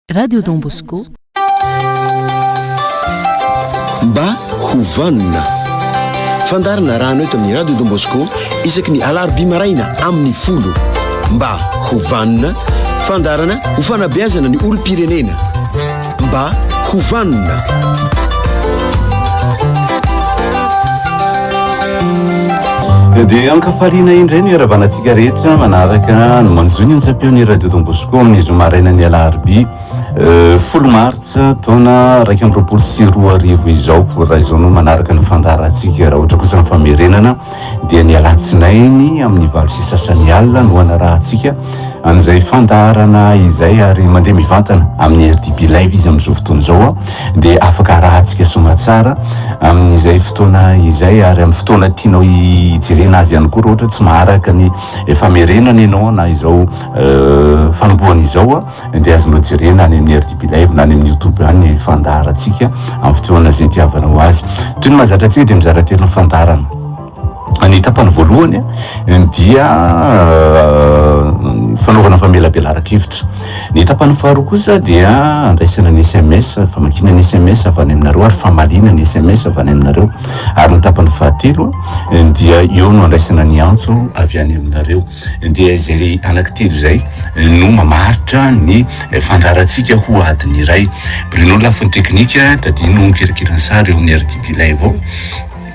Radio Don Bosco. Mba ho vanona. Fandarina rano eto amin'ny Radio Don Bosco isaky ny alarobia maraina amin'ny folo. Mba ho vanona. Fandarana ho fanabeazana ny olom-pirenena. Mba ho vanona. Dia ankafaliana indray ny haravanantsika rehetra manaraka ny manjo ny antsam-peon'ny radio Don Bosco amin'ny zoma marainan'ny alarobia euh, folo martsa taona iraika amby roapolo sy roa arivo izao raha izao no manaraka ny fandaharantsika raha ohatra kosa ny famerenana dia ny alatsinainy amin'ny valo sy sasany alina no anarahantsika an'izay fandaharana izay ary mandeha mivantana amin'ny RDB live izy amin'izao fotoana izao dia afaka arahantsika somatsara amin'izay fotoana izay ary amin'ny fotoana tianao hijerena azy ihany koa ohatra tsy maharaka ny famerenana ianao na izao euh, fanombohana izao dia azonao jerena any amin'ny RDB live na any amin'ny youtube any fandaharantsika amin'ny fotoana izay tiavanao azy toy ny mahazatra antsika dia mizara telo ny fandaharana Ny tapany voalohany dia fanaovana famelabelaran-kevitra. Ny tapany faharoa kosa dia andraisana ny sms, famakiana ny sms avy any aminareo ary famaliana ny sms avy any aminareo. Ary ny tapany fahatelo dia eo no andraisana ny antso avy any aminareo. Dia izay anaky telo izay no mamaritra ny fandaharantsika ho adiny iray. Bruno lafiny teknika, tadidio ny kirakirany sary eo amin'ny RTP Live ao.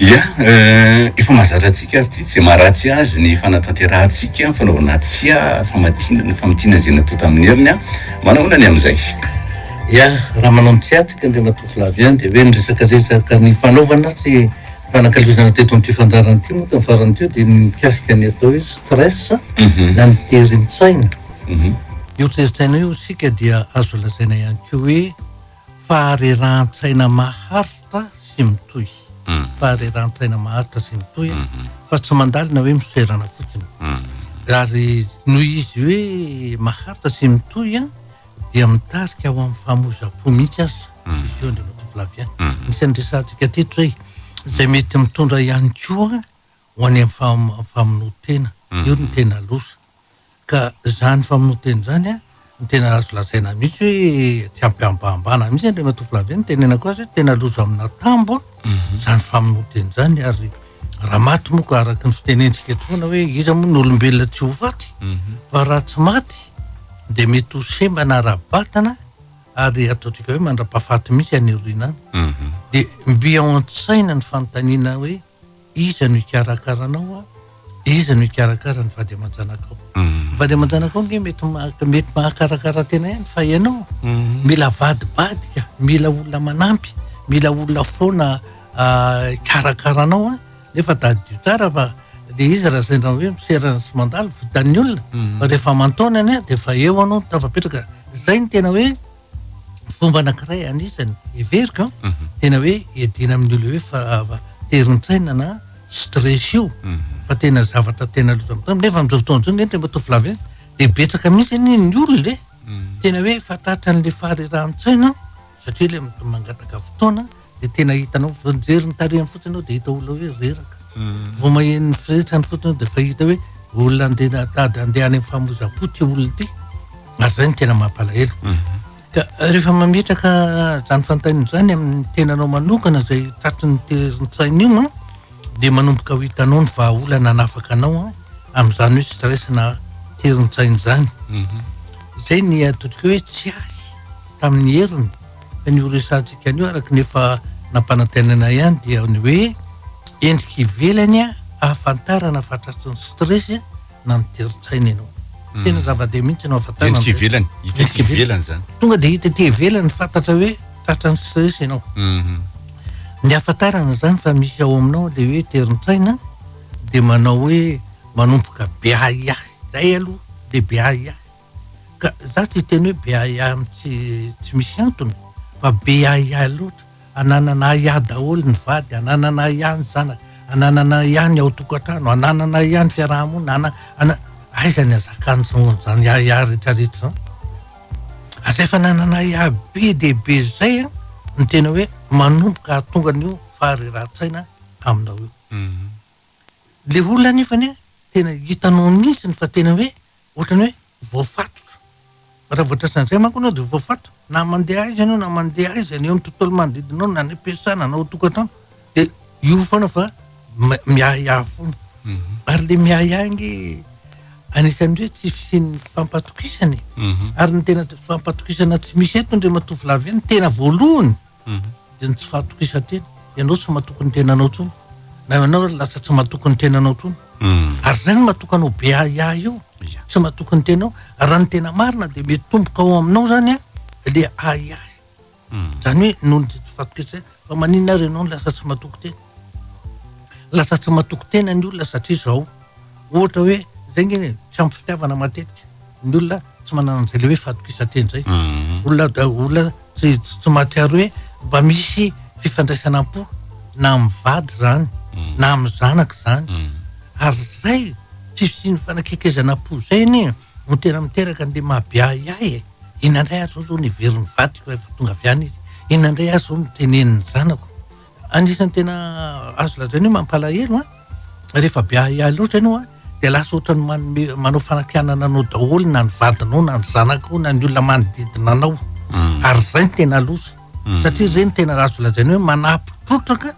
Ia, efa mahazatra antsika ary tsy dia maharatsy azy ny fanatanterahantsika ny fanaovana tsia famatina ny famatina izay natao tamin'ny heriny. Manahoana ny amin'izay? Ia, raha manao ny tsia tsika Andriamatoa Flavien dia hoe ny resaka resaka ny fanaovana sy fanakalozana teto amin'ity fandaharana ity moa tamin'ny farany teo dia ny mikasika ny atao hoe stress mhm. na ny terin-tsaina. Mhm. Io terin-tsaina io isika dia azo lazaina ihany koa hoe faharerahan-tsaina mahary Fa sy mitohy. Fahareran-tsaina maharitra sy mitohy fa tsy mandalina hoe misoerana fotsiny. Ary noho izy hoe maharitra sy mitohy dia mitarika ho amin'ny fahamoizam-po mihitsy aza izy io Andriamatoa Flavien. Anisan'ny resahantsika teto izay, izay mety mitondra ihany koa ho any amin'ny famonoan-tena, io no tena loza. Ka izany famonoan-tena izany no tena azo lazaina mihitsy hoe tsy am-pihambahambana mihitsy Andriamatoa Flavien no tenenako azy hoe tena loza amina tambo izany famonoan-tena izany ary raha maty moa ka araka ny fitenentsika eto foana hoe iza moa no olombelona tsy ho faty fa raha tsy maty dia mety ho semba na ara-batana ary ataontsika hoe mandra-pahafaty mihitsy any aoriana any. Dia mby ao an-tsaina ny fanontaniana hoe Iza no hikarakara anao a? Iza no hikarakara ny vady aman-janakao? Ny vady aman-janakao ange mety maha- mety mahakarakara tena ihany fa ianao mila avadibadika, mila olona manampy, mila olona foana ah, hikarakara anao a, nefa tadidio tsara fa le izy raha sendra hoe miserana sy mandalo vitan'ny olona, fa rehefa aman-taonany a de efa eo anao no tafapetraka, zay no tena hoe fomba anakiray anisany heveriko an ah, mhm. tena hoe edina amin'ny olo hoe fa ah, terin-tsaina na stress io mhm. fa tena zavatra tena lozamitany nefa amin'izao fotoana izao ngetra mba tovolav dia betsaka mihitsy ny ny olona e mhm. tena hoe fatratra an'le faharerahan-tsaina satria le mangataka fotoana dia tena hitanao vao mijery ny tarehiny fotsiny ianao dia hita olona hoe reraka vao maheno ny firetrany fotsiny ianao dia efa hita hoe olona andeha tady andeha any amin'ny famoizam-po ity olona ity ary izay no tena mampalahelo ka rehefa mametraka izany fantaina izany amin'ny tenanao manokana izay tratry ny terin-tsaina io an dia manomboka ho hitanao ny vahaolana hanafaka anao an amin'izany hoe stress na terin-tsaina izany izay ny atodiko hoe tsy ahy tamin'ny heriny Ny ho resahantsika anio araka ny efa nampanantenaina ihany dia ny hoe endrika ivelany ahafantarana fa tratrin'ny stress na ny terin-tsaina ianao. Hmm. Tena zava-deha mihitsy no ahafantarana. Endrika ivelany, hita ety ivelany zany. Tonga dia hita ety ivelany fantatra hoe tratran'ny stress ianao. Hmm. Ny ahafantarana zany fa misy ao aminao le hoe terin-tsaina dia manao hoe manomboka be ahiahy. Zay aloha, le be ahiahy. ka za tsy hiteny hoe be ahiahy am tsy tsy misy antony fa be ahiahy loatra ananana ahiahy daholo ny vady ananana ahiahy ny zanaka ananana ahiahy ny ao tokantrano ananana ahiahy ny fiarahamonina ana ana aiza ny azakany zan- zany ahiahy retraretra zany aza efa nanana ahiahy be de be zay an ny tena hoe manomboka hahatonga an'io faharerahan-tsaina aminao io le olona nefany an tena hitanao mihitsiny fa tena hoe Ohatrany hoe voafatotra. Raha vao tratran'ny izay manko ianao dia voafatotra. Na mandeha aiza ianao, na mandeha aiza, ny eo amin'ny tontolo manodidina anao, na any am-piasana, na ao an-tokantrano, dia io foana fa ma- miahiahy foana. Mhm. Ary ilay miahiahy ange anisan'ny hoe tsy fisian'ny fampatokisana e. Mhm. Ary ny tena t- fampatokisana tsy misy eto, Andriamatoa Flavien, ny tena voalohany, dia ny tsy fahatokisan-tena. Ianao tsy matoky ny tenanao intsony, na ianao lasa tsy matoky ny tenanao intsony. Hmm. Ary izay no matoky anao be ahiahy io, tsy matoky ny tenao. Raha ny tena marina dia mitomboka ao aminao izany a, le ahiahy. Hmm. Izany hoe noho ny tsy fahatokisan-tena, fa maninona ary ianao no lasa tsy matoky tena? Lasa tsy matoky tena ny olona satria izao, ohatra hoe zay nge e, tsy ampy fitiavana matetika ny olona, tsy manana an'izay le hoe fahatokisan-tena zay. Mhm. Olona da olona tsy tsy mahatsiaro hoe mba misy fifandraisana am-po na amin'ny vady zany mhm. na amin'ny zanaka zany. Mhm. Ary zay tsy fisian'ny fanakekezana am-po zay anie no tena miteraka an'le mahabiahiahy e. Inona indray ary zao zao niveriny vadiko rehefa tonga avy any izy, inona indray ary zao no teneniny zanako. Anisan'ny tena azo lazaina hoe mampalahelo an, rehefa be ahiahy loatra ianao dia lasa ohatran'ny manome manao fanakianana anao daholo na ny vadinao na ny zanakao na ny olona manodidina anao mm. ary izay ny tena loza mm. satria izay ny tena azo lazaina hoe manampy trotraka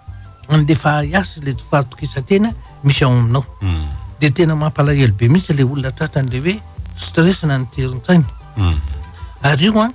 an'le fahahiasy le fahatokisantena misy ao aminao mm. dia tena mampalahelo be mihitsy le olona tratran'le hoe stress na ny terin-tsaina ary io an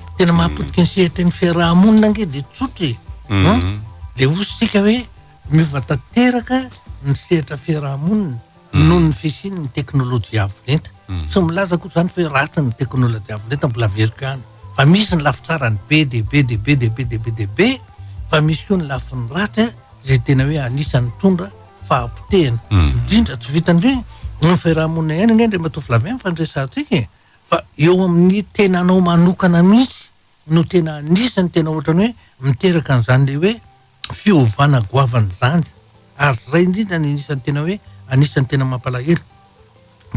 tena mahapotika ny sehatra ny fiaraha-monina ange dia tsotra e mhm. ah, dia ositsika hoe miova tanteraka ny sehatra fiaraha-monina mhm. noho ny fisin' ny teknolojia avolenta mhm. tsy milaza koa zany fahoe ratsy ny teknolojia avolenta mbola veriko ihany fa misy ny lafi tsarany be dia be dia be dia be dia be dia be fa misy koa ny lafiny ratsy zay tena hoe anisany tondra fahapotehana indrindra tsy vitany hoe ny fiaraha-monina ihany ange ndray matoa filaviany fa ny resantsika e Fa eo amin'ny tenanao manokana mihitsy no tena anisan'ny tena ohatrany hoe miteraka an'izany ilay hoe fiovana goavana izany. Ary izay indrindra no anisan'ny tena hoe anisan'ny tena mampalahelo.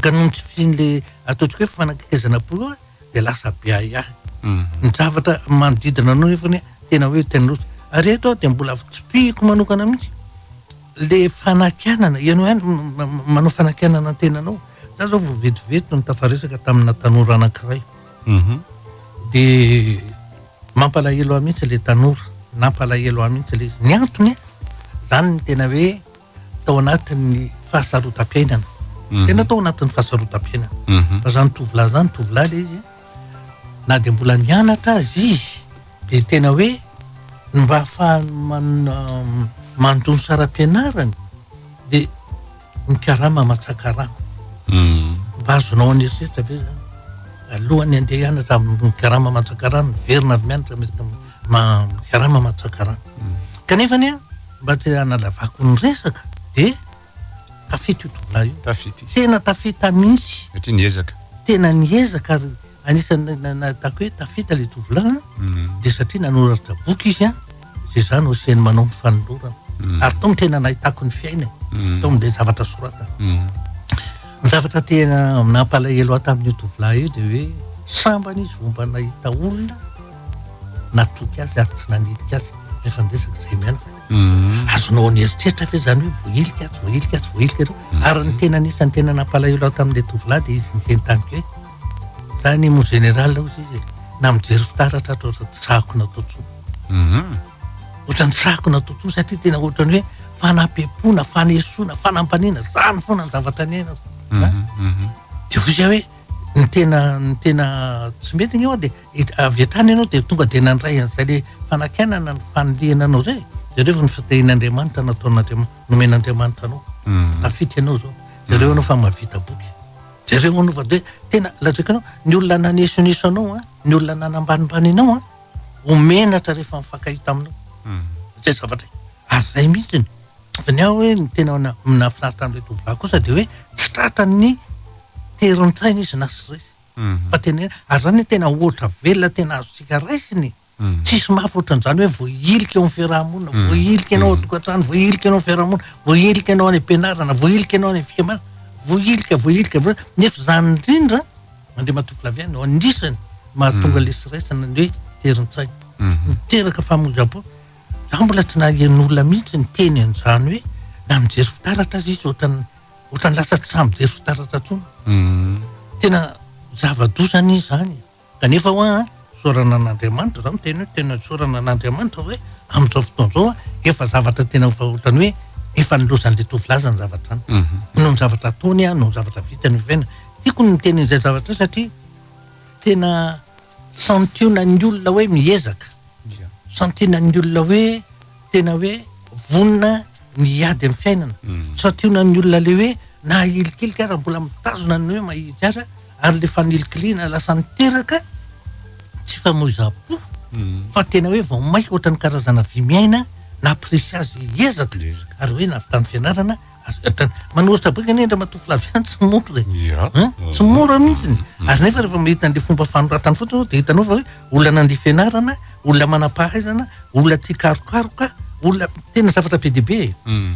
Ka noho ny tsy fisian'ilay ataontsika hoe fanakekezana poa eo dia lasa be ahiahy. Mhm. Ny zavatra manodidina anao nefany tena hoe tena loatra. Ary eto aho dia mbola fitsipihiko manokana mihitsy Le fanakianana, ianao ihany manao fanakianana ny tenanao. Za zao vao vetivety no nitafaresaka tamina tanora anankiray. Mhm. De mampalahelo ahy mihitsy le tanora, nampalahelo ahy mihitsy le izy. Ny antony an, zany ny tena hoe tao anatin'ny fahasarotam-piainana. Mhm. Tena tao anatin'ny fahasarotam-piainana. Mhm. Fa zany tovolahy zany, tovolahy le izy an, na dia mbola mianatra aza izy dia tena hoe ny mba hahafahany mandoa ny saram-pianarany dia mikarama aman-tsakarama hmm. mba azonao any eritreritra ve zany alohan'ny andeha hianatra mikarama aman-tsakarama miverina avy mianatra mikarama aman-tsakarama hmm. kanefany a mba tsy hanalavako ny resaka dia Tafita io tovolahy io. Tafita izy. Tena tafita mihitsy. Satria niezaka. Tena niezaka ary anisan'ny nahitako hoe tafita ilay tovolahy mm. dia satria nanoratra boky izy a izay za no asiany manao ny fanolorana mm. ary tao no tena nahitako ny fiainany mm. tao amin'ilay zavatra soratany ny zavatra tena nampalahelo ahy tamin'io tovolahy io dia hoe sambany izy vao mba nahita olona natoky azy ary tsy nanilika azy rehefa miresaka izay mianaka Mm. azonao ny eritreritra ve zany hoe voahilika atsy voahilika atsy voahilika ireo mm. ary ny tena anisan'ny tena nampalahelo aho tamin'le tovolahy dia izy niteny tamiko hoe za ny mo général ao izy izy na mijery fitaratra atra ohatra tsako natotsoa mm-hmm. ohatra ny tsako natotsoa satria tena ohatra ny hoe fanampiam-pona fanesoana fanampaniana zany foana ny zavatra ny aina mm-hmm. dia ho izay hoe ny tena ny tena tsy mety ny eo a dia avy hatrany ianao dia tonga dia nandray an'izay le fanakainana ny fanilihana anao zay jereo ny fitehin'andriamanitra nataon'andriamanitra nomen'andriamanitra anao mhm. tafity ianao zao jereo anao fa mavita boky jereo anao fa de tena lazaiko anao ny olona nanesoneso anao a ny olona nanambanimbany anao a omenatra rehefa mifankahita aminao mhm. zay zavatra ary zay mihitsy ny fa ny aho hoe ny tena nafinaritra an'ilay tovolahy kosa de hoe tsy tratran'ny terin-tsaina izy na stress fa tena hoe ary zany hoe tena ohatra velona tena azontsika raisina e! tsisy mafy ohatran'izany hoe voahilika eo amin'ny fiaraha-monina, voahilika ianao ao an-tokantrano, voahilika ianao amin'ny fiaraha-monina, voahilika ianao any am-pianarana, voahilika ianao any amin'ny fikambanana, voahilika, voahilika, voahilika, nefa izany indrindra Andriamatoa Flavien no anisany mahatonga ilay stress na ny hoe terin-tsaina, miteraka famonjam-po, za mbola tsy naheno olona mihitsy niteny an'izany hoe na mijery fitaratra aza izy ohatran'ny. ohatrany lasa tsy sahy mijery fitaratra tsony tena zava-doza anie zany kanefa hoa isaorana an'andriamanitra zao miteny hoe tena isaorana an'andriamanitra hoe amin'izao fotoana zao efa zavatra tena efa ohatrany hoe efa nilozan'le tovolahy zany zavatra zany mhm. noho ny zavatra ataony a noho ny zavatra vitany oviana tiako ny miteny an'izay zavatra satria tena Santionan'ny olona hoe miezaka, santionan'ny olona hoe tena hoe vonona ny hiady amin'ny fiainana, hmm. santionan'ny olona le hoe na hilikilika ara mbola mitazona ny hoe mahitsy aza ary le fanilikiliana lasa niteraka tsy famoizam-po hmm. fa tena hoe vao maika ohatran'ny karazana vy miaina na presy azy ezaka ary hoe navitany fianarana manoritra boky anie Andriamatoa Flavien tsy mora e. Tsy mora mihitsy. Mm. Ary nefa rehefa mahita an'ilay fomba fanoratany fotsiny dia hitanao fa hoe olona nandia fianarana, olona manam-pahaizana, olona tia karokaroka, olona tena zavatra be dia be e. Mm.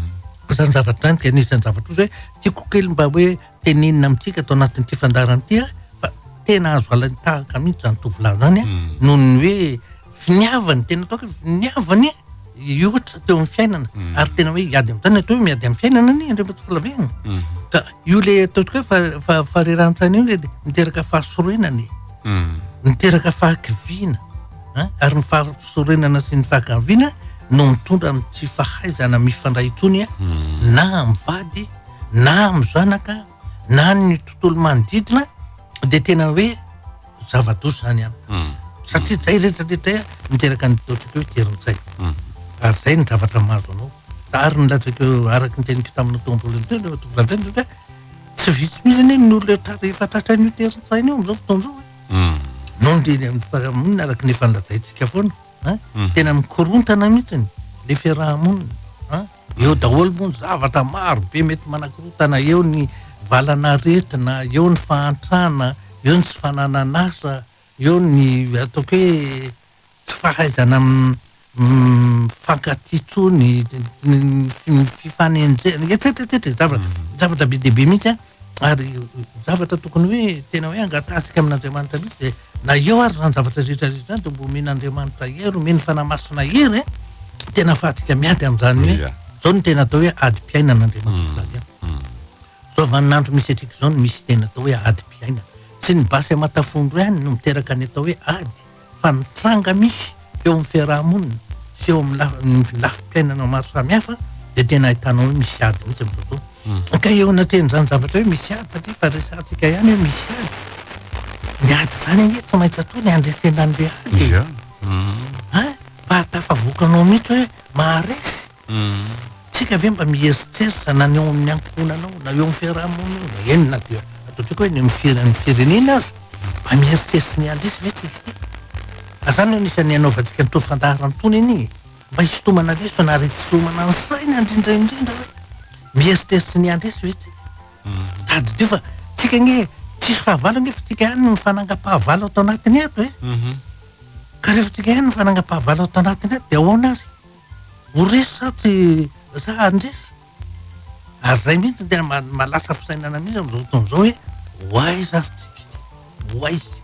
Izany zavatra izany dia anisan'ny zavatra ohatry hoe tiako kely mba hoe tenenina amintsika ato anatin'ity fandaharana ity fa tena azo alain'ny tahaka mihitsy izany tovolahy izany a hmm. noho ny hoe finiavany tena atao hoe finiavany io ohatra teo amin'ny fiainana hmm. ary tena hoe hiady amin'ny tany atao hoe miady amin'ny fiainana ny andriambo to filavehana hmm. ka io le ataoko hoe fa fareran-tsaina io le miteraka fahasoroenana e miteraka fahakiviana ary ny fahasoroenana sy ny fahakiviana no mitondra amin'ny tsy fahaizana mifandray intsony a na amin'ny vady na amin'ny zanaka na ny tontolo manodidina dia tena hoe zava-doza izany ihany hmm. satria zay rehetra rehetra miteraka ny ataontsika hoe terin-tsay hmm. ary zay ny zavatra mahazo anao ary ny latsaka araka ny teniko tamin'ny tompolo teo le tovolahy zay hoe tsy vitsy mihitsy anie ny olona tara efa tratran'io terin-tsaina io amin'izao fotoana izao hmm. noho ny teny amin'ny fiarahamonina araka ny efa nilazaintsika foana tena mikorontana mihitsy ny le fiarahamonina Eo daholo moa ny zavatra maro be mety manakorotana, eo ny valan'aretina, eo ny fahantrana, eo ny tsy fananan'asa, eo ny ataoko hoe tsy fahaizana mifankatia intsony, ny fifanenjehana etsetra etsetra e, zavatra be dia be mihitsy an. Ary ny zavatra tokony hoe tena hoe angatahantsika amin'Andriamanitra mihitsy dia na eo ary izany zavatra rehetra rehetra izany dia mba omen'Andriamanitra hery, omeny fanahy masina hery eh! tena afahantsika miady amin'izany hoe yeah. izao no tena atao hoe adim-piainana Andriamanitra mm. Flavian. Mm. Izao vaninandro misy antsika izao no misy tena atao hoe adim-piainana. Tsy ny basy amatafondro ihany no miteraka ny atao hoe ady fa mitranga misy eo amin'ny fiaraha-monina sy eo amin'ny lafim-piainana maro samihafa dia tena ahitanao hoe misy ady mihitsy amin'izao fotoana. Ka eo anatin'izany zavatra hoe misy ady satria efa resahantsika ihany hoe misy ady. Ny ady izany ange tsy maintsy atao ny handresena an'ilay ady e! Fa tafavoakanao mihitsy hoe maharesy. Tsika ve mba mieritreritra na ny ao amin'ny ankohonana ao na eo amin'ny fiaraha-monina eo na eny na dia ataontsika hoe eny amin'ny firenan'ny firenena aza mba mieritreritra ny handresy ve tsika ity? Ka zany no anisan'ny anaovantsika an'itony fandaharan'itony anie e! Mba hisintomana lesona ary hitsitomana ny saina indrindra indrindra hoe mieritreritra ny handresy ve tsika? Tadidio fa tsika anie tsisy fahavalo anie fa tsika ihany no mifanangam-pahavalo ato anatiny ato e! Ka rehefa tsika ihany no mifanangam-pahavalo ato anatiny ato dia ahoana ary? Ho resy sa tsy sa handresy? Ary izay mihitsy tena ma- mahalasa fisainana mihitsy amin'izao fotoana izao hoe ho aiza ary tsika ity? Ho aiza tsika ity?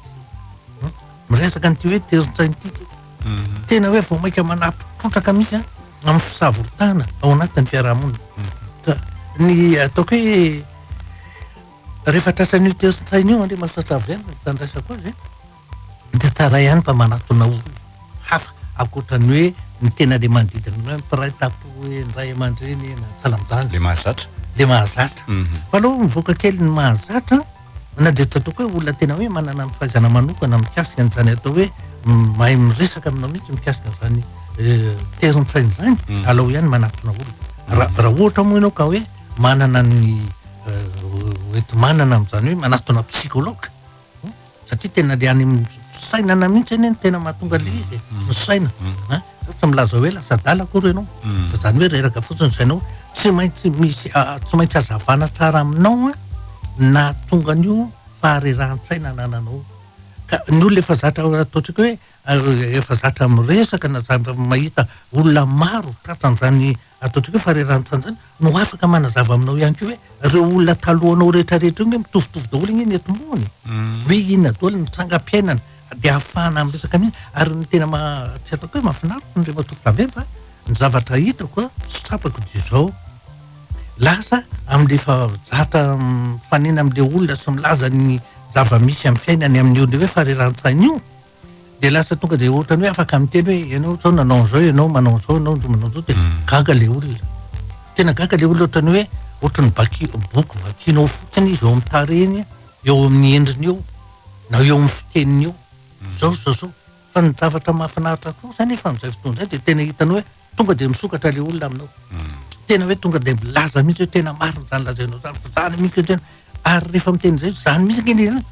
Hmm? Miresaka an'ity hoe terin-tsaina ity tsika. Mhm. Tena hoe vao mainka manapotrotraka mihitsy an, amin'ny fisavorotana ao anatin'ny fiarahamonina. Ka ny ataoko hoe rehefa tratran'io terin-tsaina io Andriamasatra Avy Any no tandraisako azy, Hita tsara ihany fa manatona olona hafa ankoatra ny hoe ny tena le manodidina anao hoe mpiray tampo hoe ny ray aman-dreny na ny salanjanaka. Le mahazatra. Le mahazatra. Mhm. Fa aleo mivoaka kely ny mahazatra na dia tsy ataoko hoe olona tena hoe manana ny fahaizana manokana mikasika an'izany atao hoe m- mahay miresaka aminao mihitsy mikasika an'izany eh, terin-tsaina izany, Mhm. alao ihany manatona olona. Ra- Raha ohatra moa ianao ka hoe manana ny eh, ho- ho enti-manana amin'izany hoe manatona psychologue, Satria tena le any amin'ny fisainana mihitsy anie no tena mahatonga le izy e, ny saina a, zao tsy milaza hoe lasa adala akory ianao fa zany hoe reraka fotsiny ny sainao, tsy maintsy misy tsy maintsy hazavana tsara aminao a ny nahatonga an'io faharerahan-tsaina anananao io, ka ny olona efa zatra atao tsika hoe efa zatra miresaka na zatra mahita olona maro tratran'izany ataontsika hoe faharerahantany izany no afaka manazava aminao ihany koa hoe ireo olona talohanao rehetrarehetra io nge mitovitovy daholo nge ny atimbony hoe inona daholo ny trangam-piainana dia ahafahana miresaka mihitsy ary ny tena maha tsy ataoko hoe mahafinaritra ny ry matoa Flavien fa ny zavatra hitako a sy tsapako dia izao lasa amin'ilay efa zatra mifanena amin'ilay olona sy milaza ny zava-misy amin'ny fiainany amin'io le hoe faharerahantsaina io dia lasa tonga dia ohatrany hoe afaka miteny hoe ianao zao nanao an'izao ianao manao an'izao ianao ndro manao an'izao dia mm. gaga le olona tena gaga le olona ohatrany hoe ohatrany baki boky vakianao fotsiny izy eo amin'ny tarehiny eo amin'ny endriny eo na eo amin'ny fiteniny eo mm. zao zao zao fa ny zavatra mahafinaritra kosa nefa amin'izay fotoana izay dia tena hitanao hoe Tonga dia misokatra ilay olona aminao. Tena hoe tonga dia milaza mihitsy hoe tena marina izany lazainao izany fa izany mihitsy hoe tena. Ary rehefa miteny izay izany mihitsy ange ny anao.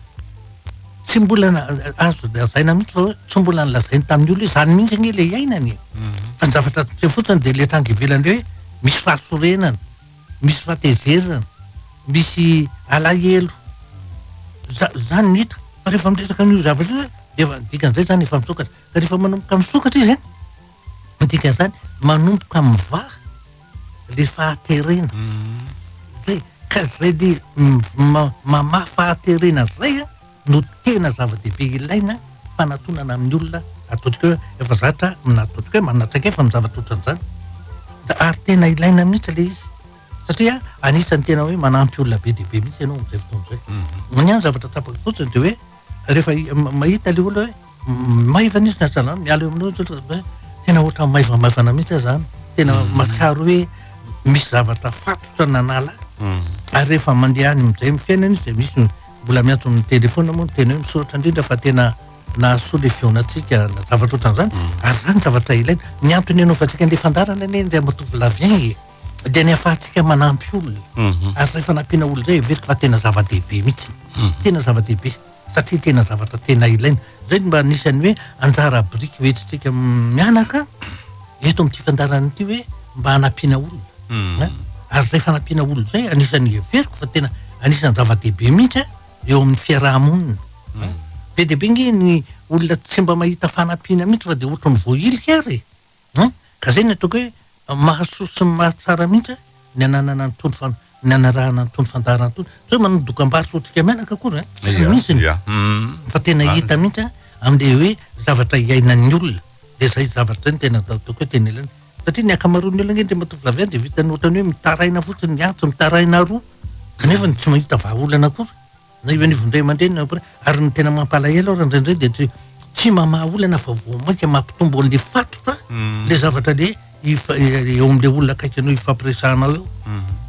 Tsy mbola na- azo lazaina mihitsy fa hoe tsy mbola nolazainy tamin'ny olona hoe izany mihitsy ange ilay iainany e. Fa ny zavatra tsy fotsiny dia ilay tranga ivelany hoe misy fahasorenana, misy fahatezerana, misy alahelo. Za- Izany no hita. Fa rehefa miresaka an'io zavatra io dia efa dikan'izay izany efa misokatra. Ka rehefa manomboka misokatra izy an. Ny dikan'izany, manomboka mivaha le fahaterena. Zay, ka zay le mamaha fahaterena zay an, no tena zava-dehibe ilaina fanatonana amin'ny olona ataontsika hoe efa zatra na ataontsika hoe manana traikefa amin'ny zavatra ohatran'izany. Da ary tena ilaina mihitsy le izy satria anisan'ny tena hoe manampy olona be dia be mihitsy ianao amin'izay fotoana izay. Ny ahy ny zavatra tsapako fotsiny de hoe. Rehefa mahita ilay olona hoe maivana izy na salama, miala eo aminao izy hoe tena ohatran'ny maivamaivana mihitsy aho zany. Tena mm. mahatsiaro hoe misy zavatra fatotra nanala. Mm. Ary rehefa mandeha any amin'izay amin'ny fiainana izy dia misy mbola miantso amin'ny telefona moa ny tena hoe misaotra indrindra fa tena nahasoa ilay fihaonantsika na zavatra ohatran'izany. Mm. Ary zany zavatra ilaina. Ny antony hanaovantsika an'ilay fandarana anie indray matoa volavien e. dia ny ahafahantsika manampy olona mhm. ary zay fanampiana olona zay heveriko fa tena zava-dehibe mihitsy mhm. tena zava-dehibe satria tena zavatra tena ilaina zay mba anisan'ny hoe anjara biriky hoentintsika mianaka eto amin'ity fandarana ity hoe mba hanampiana olona mhm. ary zay fanampiana olona zay anisan'ny heveriko fa tena anisan'ny zava-dehibe mihitsy eo amin'ny fiaraha-monina be dia be nge ny olona tsy mba mahita fanampiana mihitsy fa dia ohatrany voahilika ary An! Ka zay ny ataoko hoe mahasoa sy mahatsara mihitsy ny ananana an'itony fan- ny anarahana an'itony fandaharana itony. Tsy hoe manao dokam-barotra otrika menaka akory an! Tsy Ia, misy ny. ia. Hum. Fa tena Marina. hita mihitsy an, amin'ilay hoe zavatra iainan'ny olona. Dia zay zavatra zay no tena atao ataoko hoe tena ilaina. Satria ny ankamaroan'ny olona ange Andriamatoa Flavien dia vitan'ny ohatran'ny hoe mitaraina fotsiny miantso, mitaraina aroa, kanefany tsy mahita vahaolana akory. na eo anivon'ny ray aman-dreny na mpira- ary ny tena mampalahelo ary indraindray dia tsy tsy mamaha olana fa vao mainka mampitombo an'le fatotra Mm. le zavatra le ifa- e- eo amin'le olona akaiky anao ifampiresahanao eo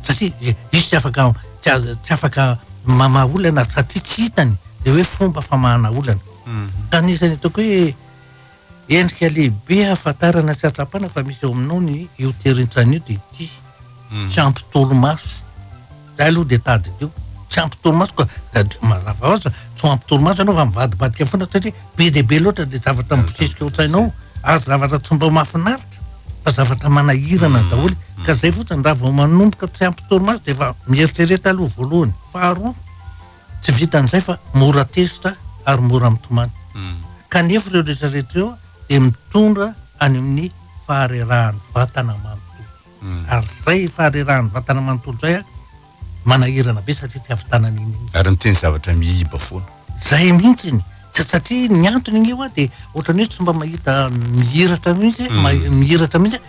satria i- izy tsy afaka tsy a- tsy afaka mamaha olana satria tsy hitany le hoe fomba famahana olana ka anisan'ny ataoko hoe Endrika lehibe ahafantarana sy ahatsapana fa misy ao aminao ny io terin-tsaina io dia ity, tsy ampy torimaso. Zay aloha dia tadidio, tsy ampy torimaso ka tadidio, mazava ho azy tsy ho ampy torimaso ianao fa mivadibadika foana satria be dia be loatra ilay zavatra mibosesika ao an-tsainao ary zavatra tsy mba mahafinaritra fa zavatra manahirana daholo ka zay fotsiny raha vao manomboka tsy ampy torimaso dia efa mieritrereta aloha voalohany, faharoa. Tsy vitan'izay fa mora tezitra ary mora mitomany. Kanefa ireo rehetra rehetra ireo dia mitondra any amin'ny faharerahan'ny vatana manontolo. Ary izay faharerahan'ny vatana manontolo izay manahirana be satria tsy hahavitana an'iny iny. Ary miteny zavatra mihiba foana. Izay mihitsy ny satria ny antony ange ho'a dia ohatran'ny hoe tsy mba mahita mihiratra mihitsy, mihiratra mihitsy.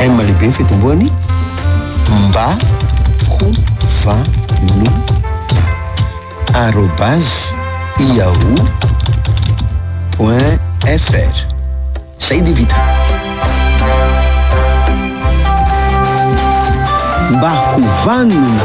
M lehibe ny fitomboany mba ho vanona arobase yahoo point fr zay dia vita mba ho vanona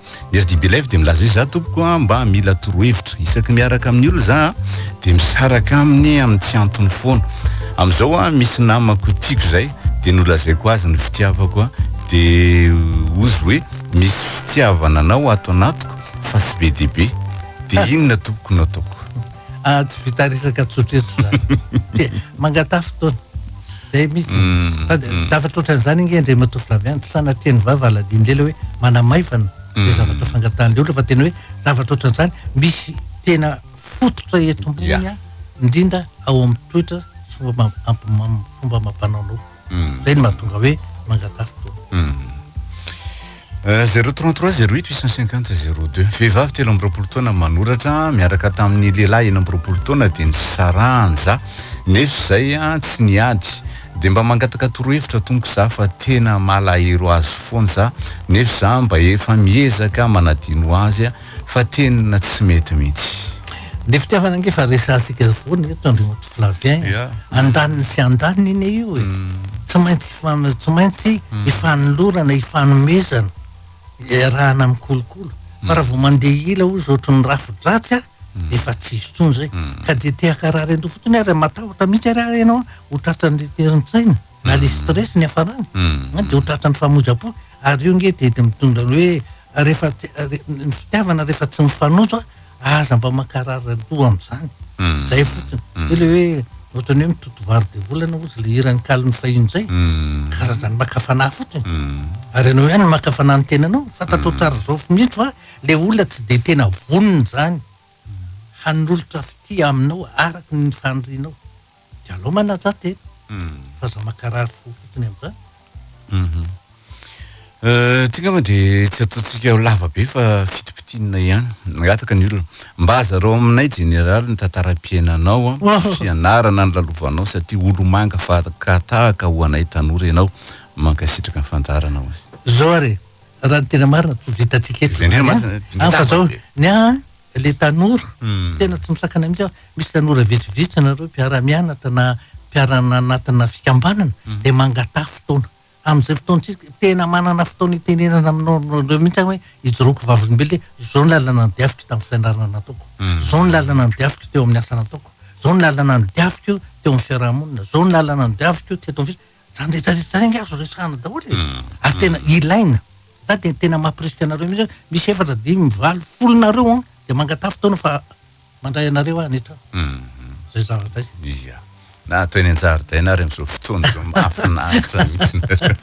Mirdi Belife dia milaza hoe za tompoko a mba mila torohevitra. Isaky miaraka amin'ny olona za a dia misaraka aminy amin'ny tsy antony foana. Amin'izao a misy namako tiako izay dia nolazaiko azy ny fitiavako a dia ozy hoe misy fitiavana anao ato anatiko fa tsy be dia be. Dia inona tompoko no ataoko? Ah, tsy vita resaka tsotra eto zany. Tsia, mangatà fotoana. Zay mihitsy. Fa zavatra ohatran'izany ange Andriamatoa Flavien, tsy sanatria ny vava haladian'ny lela hoe manamaivana le zavatra fangatahan'ny olona fa tena hoe zavatra ohatran'izany misy tena fototra eto ambony a, indrindra ao amin'ny toetra sy fomba fomba amam-panaonao. Zay no mahatonga hoe mangataha fotoana. Euh, zero trente trois zero huit huit cent cinquante zero deux vehivavy telo amby roapolo taona manoratra miaraka tamin'ny lehilahy enina amby roapolo taona dia nisarahany za nefa izay a tsy niady dia mba mangataka torohevitra tompoko za fa tena malahelo azy foana za nefa za mba efa miezaka manadino azy a fa tena tsy mety mihitsy. Ny fitiavana ange efa resahantsika foana eto Andriamatoa Flavien e. Andaniny sy andaniny anie io e. Tsy maintsy hifan- tsy maintsy hifanolorana, hifanomezana, iarahana mikolokolo. Fa raha vao mandeha ila hozy ohatry ny rafi-dratsy a, dia efa tsy hisy intsony izay. Ka dia te hankarary an'ireo fotsiny ary matahotra mihitsy ary aho ianao ho tratran'ny terin-tsaina na ilay stress niafarany, dia ho tratran'ny famoizam-po. Ary io ange dia dia mitondra ny hoe rehefa ny fitiavana rehefa tsy mifanojo aza mba mankarary randoha am'zany hmm. zay fotiny hmm. de le hoe ohatrany hoe mitoto vary de volana ozy le hiran'ny kalon'ny fahiny zay hmm. karazany maka fanahy fotiny ary anao ihany maka fanahy ny tenanao fantatao tsara zao mihitsy fa le olona tsy de tena vonona zany hanolotra fitia aminao araka ny fanrinao de alao manaja tena fa aza makarary fo fotsiny amizany. Mhm. Euh, ty ngamba de tsy ataontsika ho lava be fa fitipitinina ihany. Mangataka ny olona mba azarao aminay jeneraly ny tantaram-piainanao an, sy anarana nilalovanao satria olomanga fahaka tahaka ho anay tanora ianao. Mankasitraka ny fandaharana hoy. Zao ary, raha ny tena marina tsy ho vitantsika eto Izay indrindra izany an. masina, An fa zao, ny ahy an, le tanora tena tsy misakana mihitsy aho, misy tanora vitsivitsy nareo mpiara-mianatra na mpiara-nanatona fikambanana dia mangataha fotoana, amin'izay fotoana tsisy ka, tena manana fotoana itenenana aminao nareo mihitsy aho hoe ijoroako vavolombelona hoe zao ny lalana nodiaviko tamin'ny fianarana nataoko, zao ny lalana nodiaviko teo amin'ny asa nataoko, zao ny lalana nodiaviko teo amin'ny fiaraha-monina, zao ny lalana nodiaviko teto amin'ny. Zany rehetra rehetra zany azo resahana daholo e! ary tena ilaina, za dia tena mampirisika anareo mihitsy hoe misy efatra, dimy, valo, folo nareo an! dia mangataha fotoana fa mandray anareo aho any an-trano, zay zavatra zay. Ia, na ato eny an-jaridaina ary amin'izao fotoana izao mahafinaritra mihitsy nareo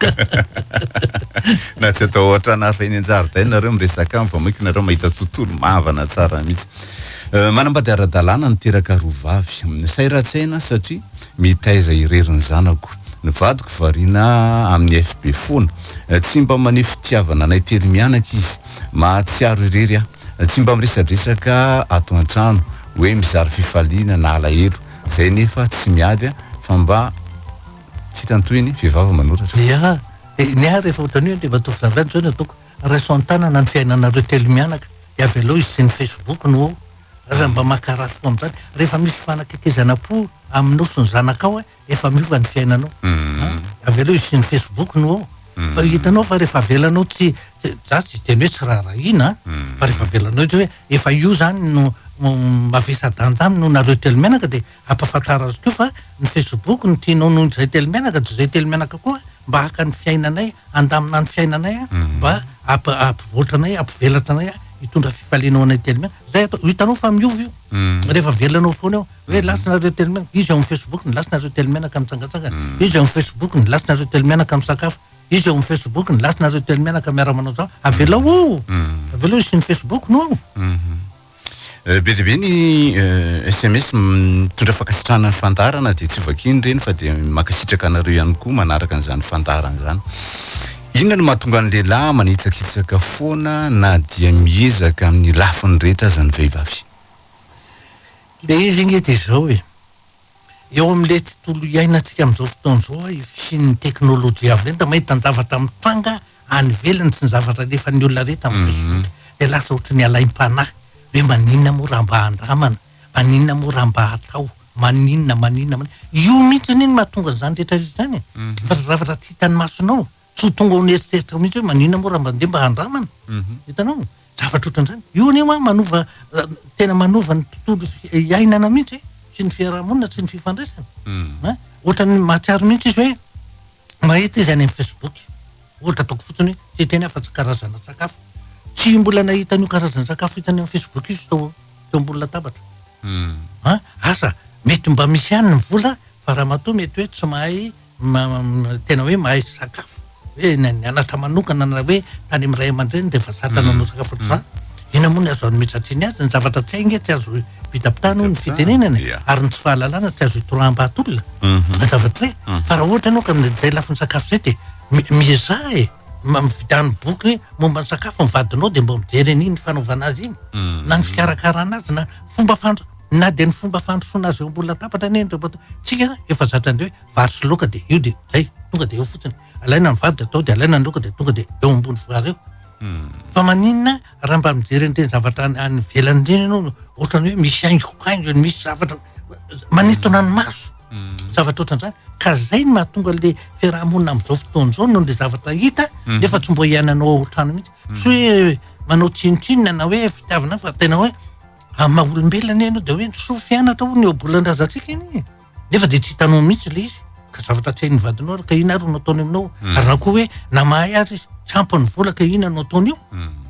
na tsy atao ao an-trano ary fa eny an-jaridaina nareo miresaka aminy fa maika nareo mahita tontolo mahavana tsara mihitsy. Manambady ara-dalàna niteraka roa vavy. Sahiratsena satria. Mitaiza irery ny zanako. Ny vadiko variana amin'ny FB foana. Tsy mba maneho fitiavana anay telo mianaka izy. Mahatsiaro irery aho. Tsy mba miresadresaka ato an-trano, hoe mizara fifaliana na alahelo. Izay nefa tsy miady fa mba tsy hita ny tohiny, vehivavy manoratra. Ny ahy, ny ahy rehefa ohatran'io ilay matoa vavy any izao no ataoko, raiso an-tanana ny fiainanareo telo mianaka, dia avy aleo hisian'ny Facebook no. Aza mba maka ratsy fo amin'izany. Rehefa misy fanaketezanam-po aminao sy ny zanakao, efa miova ny fiainanao. Avy eo hisian'ny Facebook no ao. Fa hitanao fa rehefa avelanao tsy, za tsy hiteny hoe tsy raharahiana an, fa rehefa avelanao hoe efa io zany no mavesa-danja aminy noho nareo telo mianaka dia. Ampahafantaro azy koa fa ny facebook no tianao noho ny zay telo menaka de zay telo menaka koa mba haka ny fiainanay handamina ny fiainanay a mba ampivoatra anay ampivelatra anay a hitondra fifaliana ho anay telo menaka zay atao hitanao fa miova io rehefa avelana ao foana eo hoe lasa nareo telo menaka izy ao amin'ny facebook ny lasa nareo telo menaka mitsangatsangana izy ao amin'ny facebook ny lasa nareo telo menaka misakafo izy ao amin'ny facebook ny lasa nareo telo menaka miara manao zao avelao ao avelao hisian'ny facebook no ao Euh, be dia be ny euh, sms mitondra fankasitrahana ny fandaharana dia tsy vakiany ireny fa dia mankasitraka anareo ihany koa manaraka an'izany fandaharana izany inona no mahatonga ny lehilahy manitsakitsaka foana na dia miezaka amin'ny lafiny rehetra aza ny vehivavy le izy inge dia izao e Eo amin'ilay tontolo iainantsika amin'izao fotoana izao io fisian'ny teknolojia avy lenta, mahita ny zavatra mitranga any ivelany sy ny zavatra alefan'ny olona rehetra amin'ny mhm. Facebook dia lasa ohatry ny alaim-panahy hoe maninona moa raha mba handramana, maninona moa raha mba hatao, maninona, maninona, maninona. Io mihitsy anie no mahatonga an'izany rehetra rehetra izany e. Mhm. Fa zavatra tsy hitan'ny masonao. Tsy ho tonga ao an'eritreritra mihitsy hoe maninona moa raha mandeha mba handramana. Hitanao? Zavatra ohatran'izany. Io anie hoa manova, tena manova ny tontolo iainana mihitsy, sy ny fiaraha-monina, sy ny fifandraisana. Ohatran'ny mahatsiaro mihitsy izy hoe mahita izy any amin'ny Facebook. Ohatra ataoko fotsiny hoe, tsy hiteny aho fa tsy karazana sakafo. Tsy mbola nahita an'io karazana sakafo hitany amin'ny Facebook io izy tao teo ambony latabatra. Asa mety mba misy ihany ny vola fa ramatoa mety hoe tsy mahay tena hoe mahay sakafo hoe ny anatra manokana na hoe tany am ray aman-dreny de efa zatra nanao sakafo ohatr'izany inona moa ny azo anmetsatry azy ny zavatra tsy hay nge tsy azo vitam-pitana hono ny fitenenana e ary ny tsy fahalalana tsy azo itoraham-bahatolona mhm. zavatra hoe mhm. fa raha ohatra ianao ka amin'izay lafiny sakafo zay de miezaha e mivita ny boky hoe momba ny sakafo ny vadinao de mba mijery an'iny fanaovana azy iny mhm. na ny fikarakarana azy na fomba fandra Na dia ny fomba fandrosoana azy eo ambony latabatra anie indray matoa. Tsika efa zatra indray hoe vary sy laoka dia io dia zay, tonga dia eo fotsiny. Alaina ny vary dia atao dia alaina ny laoka dia tonga dia eo ambony vary eo. Fa maninona raha mba mijery an'ireny zavatra any any ivelany ireny ianao no ohatrany hoe misy haingokaingony, misy zavatra manintona ny maso. Zavatra ohatran'izany. Ka zay no mahatonga le fiarahamonina amin'izao fotoana izao noho le zavatra hita nefa tsy mbo iainanao ao an-trano mihitsy. Tsy hoe manao tsinontsinona na hoe fitiavana fa tena hoe Amin'ny maha olombelona anie ianao dia hoe ny soa fianatra hono ny ohabolan-drazantsika anie e. Nefa dia tsy hitanao mihitsy ilay izy ka zavatra tsy hain'ny vadinao ary ka inona ary no ataony aminao. Hmm. Ary na koa hoe na mahay ary izy tsy ampy ny vola ka inona no ataony eo. Hmm.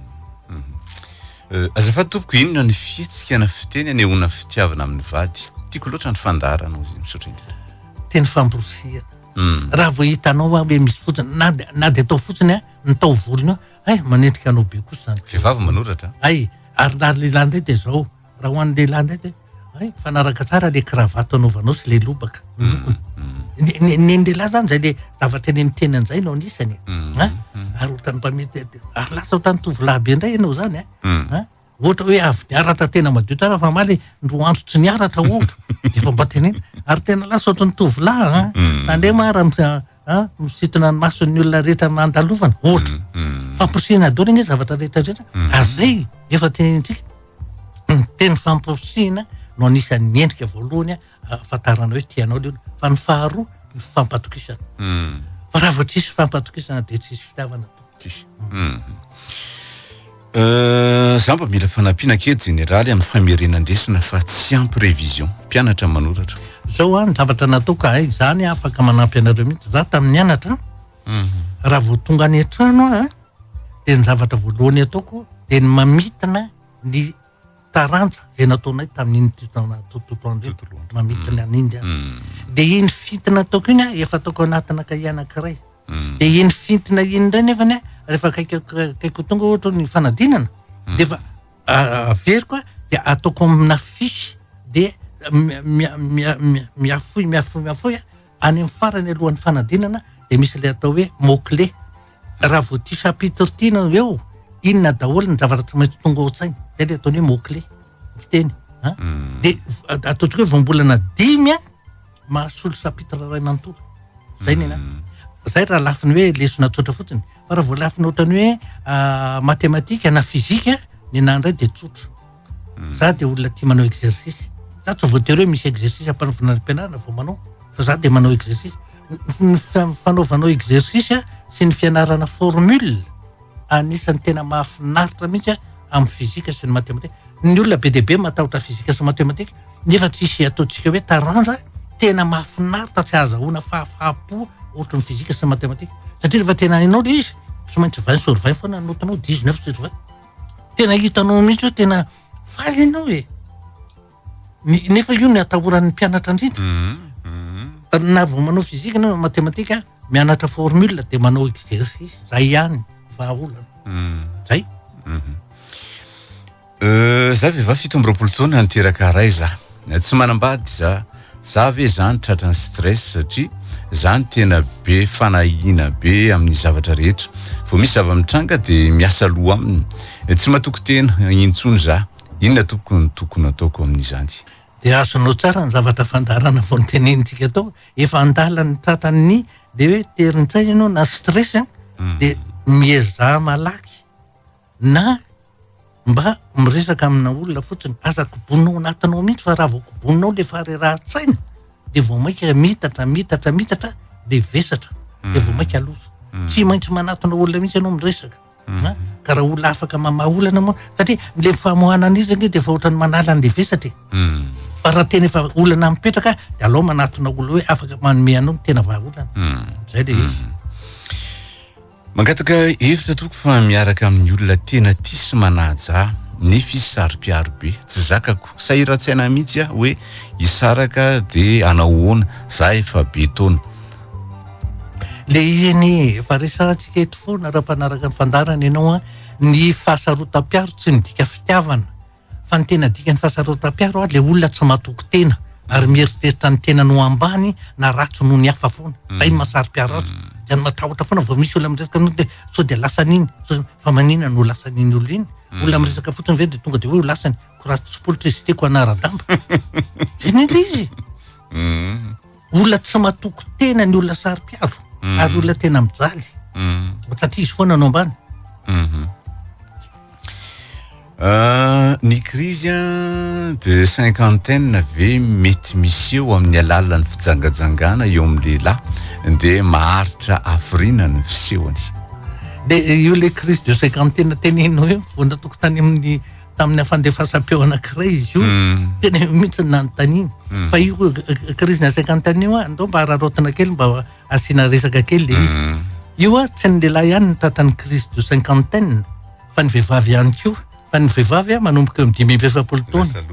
Euh, azafady tompoko inona ny fihetsika na fiteny anehoana fitiavana amin'ny vady tiako loatra ny fandaharana ozy misaotra indrindra teny famborosihana hmm. raha vao hitanao a hoe misy fotsiny na na de atao fotsiny a ny taovolony eo Hay, manenjika anao be kosa izany. Vehivavy manoratra. Hay, ary na lehilahy indray dia izao. Raha ho an'ny lehilahy indray dia hay, mifanaraka tsara ilay kravato anaovanao sy ilay lobaka. Ny lokony. Ny- Ny ny an'ny lehilahy izany izay ilay zavatra eny amin'ny tenany izay no anisany. e. Ha? Ary ohatran'ny mpamety, ary lasa ohatran'ny tovolahy be indray ianao izany. e. Ha? Ohatra hoe avy niaratra tena madio tsara fa maly ny roa andro tsy niaratra ohatra dia efa mba tenena ary tena lasa ohatry ny tovolahy a ah. mm. tandrema ara ah, misitona ny mason'ny olona rehetra mandalovana ohatra mm, mm. famporisihina adolo ny zavatra rehetra rehetra ary zay efa tenentsika ny teny famporisihina no anisan'ny endrika voalohany ahafantarana hoe tianao le olona fa ny faharoa ny fifampatokisana hmm. fa raha vao tsisy fifampatokisana dia tsisy fitiavana tsisy hmm. euh, za mba mila fanampiana kely jeneraly amin'ny famerenan-desona fa tsy ampy révision mpianatra manoratra zao a ny zavatra nataoka hay zany afaka manampy anareo mihitsy za tamin'ny anatra hmm. raha vao tonga any an-trano a dia ny zavatra voalohany ataoko dia ny mamitina ny taranja zay nataonay tamin'iny tutona tutotondro Tutoloandro. mamitiny an'i India Mm. de iny fintina ataoko iny a, efa ataoko anatina kahie anankiray Mm. de iny fintina iny indray nefany a, rehefa akaiky akaiky ho tonga ohatra ny fanadinana de efa ah, averiko a, de ataoko amina fiche de mi- mi- mi- mi- miafoy miafoy miafoy a, any amin'ny farany alohan'ny fanadinana de misy le atao hoe mot clé Raha vao ity chapitre ity no eo, inona daholo ny zavatra tsy maintsy tonga ao an-tsaina. Izay ilay ataony hoe mot clé, ny fiteny. An? Hmm. Dia at- ataontsika hoe voambolana dimy an, mahasolo chapitre iray manontolo. Izay ny anahy. Hmm. Izay raha lafiny hoe lesona tsotra fotsiny. Fa raha vao lafiny ohatran'ny hoe ah, matematika na fizika, ny anahy indray dia tsotra. Za dia olona tia manao exercice. Za tsy voatery hoe misy exercice ampanaovina any am-pianarana vao manao fa za dia manao exercice. Ny fanaovanao exercice sy ny fianarana formule anisan'ny tena mahafinaritra mihitsy amin'ny physique sy ny mathématique. Ny olona be dia be matahotra physique sy mathématique nefa tsy hisy ataontsika hoe taranja tena mahafinaritra tsy ahazahoana fahafaham-po ohatry ny physique sy ny mathématique satria rehefa tena hainao ilay izy tsy maintsy vingt sur vingt foana ny note-nao, dix neuf sur vingt. Tena hitanao mihitsy hoe tena faly ianao e. Nefa io ny atahoran'ny mpianatra indrindra. Mhm, mhm. Na vao manao fizika na matematika, mianatra formule dia manao exercice, zay ihany, vahaolana. Mhm. Zay. Euh, za vehivavy fito amby roapolo taona niteraka ray za Tsy manambady za. Za ve zany tratran'ny stress satria za no tena be fanahiana be amin'ny zavatra rehetra. Vao misy zava-mitranga de miasa loha aminy. Tsy matoky tena intsony za. Inona tompoko no tokony ataoko amin'izany. Dia azonao tsara ny zavatra fandaharana vao notenenintsika tao. Efa an-dalan'ny tratran'ny le hoe terin-tsaina ianao na stress dia miezaha malaky Na mba miresaka amina olona fotsiny, aza kobonina ao anatinao mihitsy fa raha vao kobonina ao le faharerahan-tsaina dia vao mainka mitatra, mitatra, mitatra le vesatra hmm. dia vao mainka loza. Hmm. Tsy maintsy manatona olona mihitsy ianao miresaka. Hmm. Ka raha olona afaka mamaha olana moa satria le famoahana an'izy anie dia efa ohatran'ny manala an'le vesatra e. Fa raha tena efa olana mipetraka dia alao manatona olona hoe afaka manome anao ny tena vahaolana. Zay le izy. Mangataka hevitra tompoko fa miaraka amin'ny olona tena tia sy manaja ahy nefa izy saro-piaro be, tsy zakako, sahiran-tsaina mihitsy aho hoe hisaraka dia hanao ahoana, za efa be taona. Le izy anie e, efa resahantsika eto foana raha mpanaraka ny fandaharana ianao an, ny fahasarotam-piaro tsy midika fitiavana, Fa ny tena dikan'ny fahasarotam-piaro ary ilay olona tsy matoky tena ary mieritreritra ny tenany ho ambany na ratsy noho ny hafa foana. Mm. Zay ny mahasaropiaro azy. Mm. Dia ny matahotra foana vao misy olona miresaka anao dia sao dia lasan'iny. Fa manina no lasan'iny olona iny. Mm. Olona miresaka fotsiny ve dia tonga dia hoe ho lasany. Ko raha tsy politra izy tiako hanara-damba. Zay ny ilay izy. Mm. olona tsy matoky tena ny olona saro-piaro mm. ary olona tena mijaly mm. satria izy foana no ambany mhm. ah, ny krizy a de cinquantaine ve mety misy eo amin'ny alalan'ny fijangajangana eo amin'ny lehilahy de maharitra afrina ny fisehony de io le krizy de cinquantaine teneno eo vonatokotany amin'ny tamin'ny fandefasam-peo anankiray izy io mm. tena io mihitsy nanontaniana mm. fa io crise na cinquante année io andao mba araraotina kely mba asiana resaka kely le izy mm. io a tsy ny lehilahy ihany ny tratran'ny crise de cinquantaine fa ny vehivavy ihany koa fa ny vehivavy a manomboka eo dimy amby efapolo taona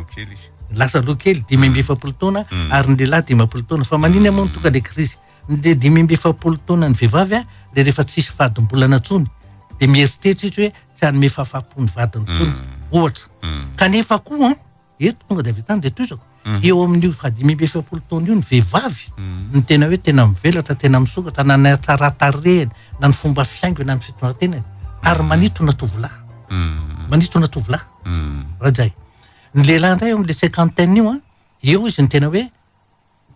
lasa loha kely dimy amby efapolo taona ary ny lehilahy dimampolo taona fa manina moa ny tonga le crise Dia dimy amby efapolo taona ny vehivavy a, dia rehefa tsisy fadim-bolana intsony dia mieritreritra izy hoe tsy hanome fahafaham-po ny vadiny intsony, mm. ohatra. Mm. Kanefa koa an, eto tonga dia avy tany dia toizako, mm. eo amin'io fahadimy amby efapolo taona io ny vehivavy ny tena hoe tena mivelatra, tena misokatra, na ny hatsaran-tarehany, na ny fomba fiaingony, na ny fitondratenany, ary manitona tovolahy. Manitona tovolahy. Rajay. Ny lehilahy indray eo amin'ilay cinquantaine io an, eo izy ny tena hoe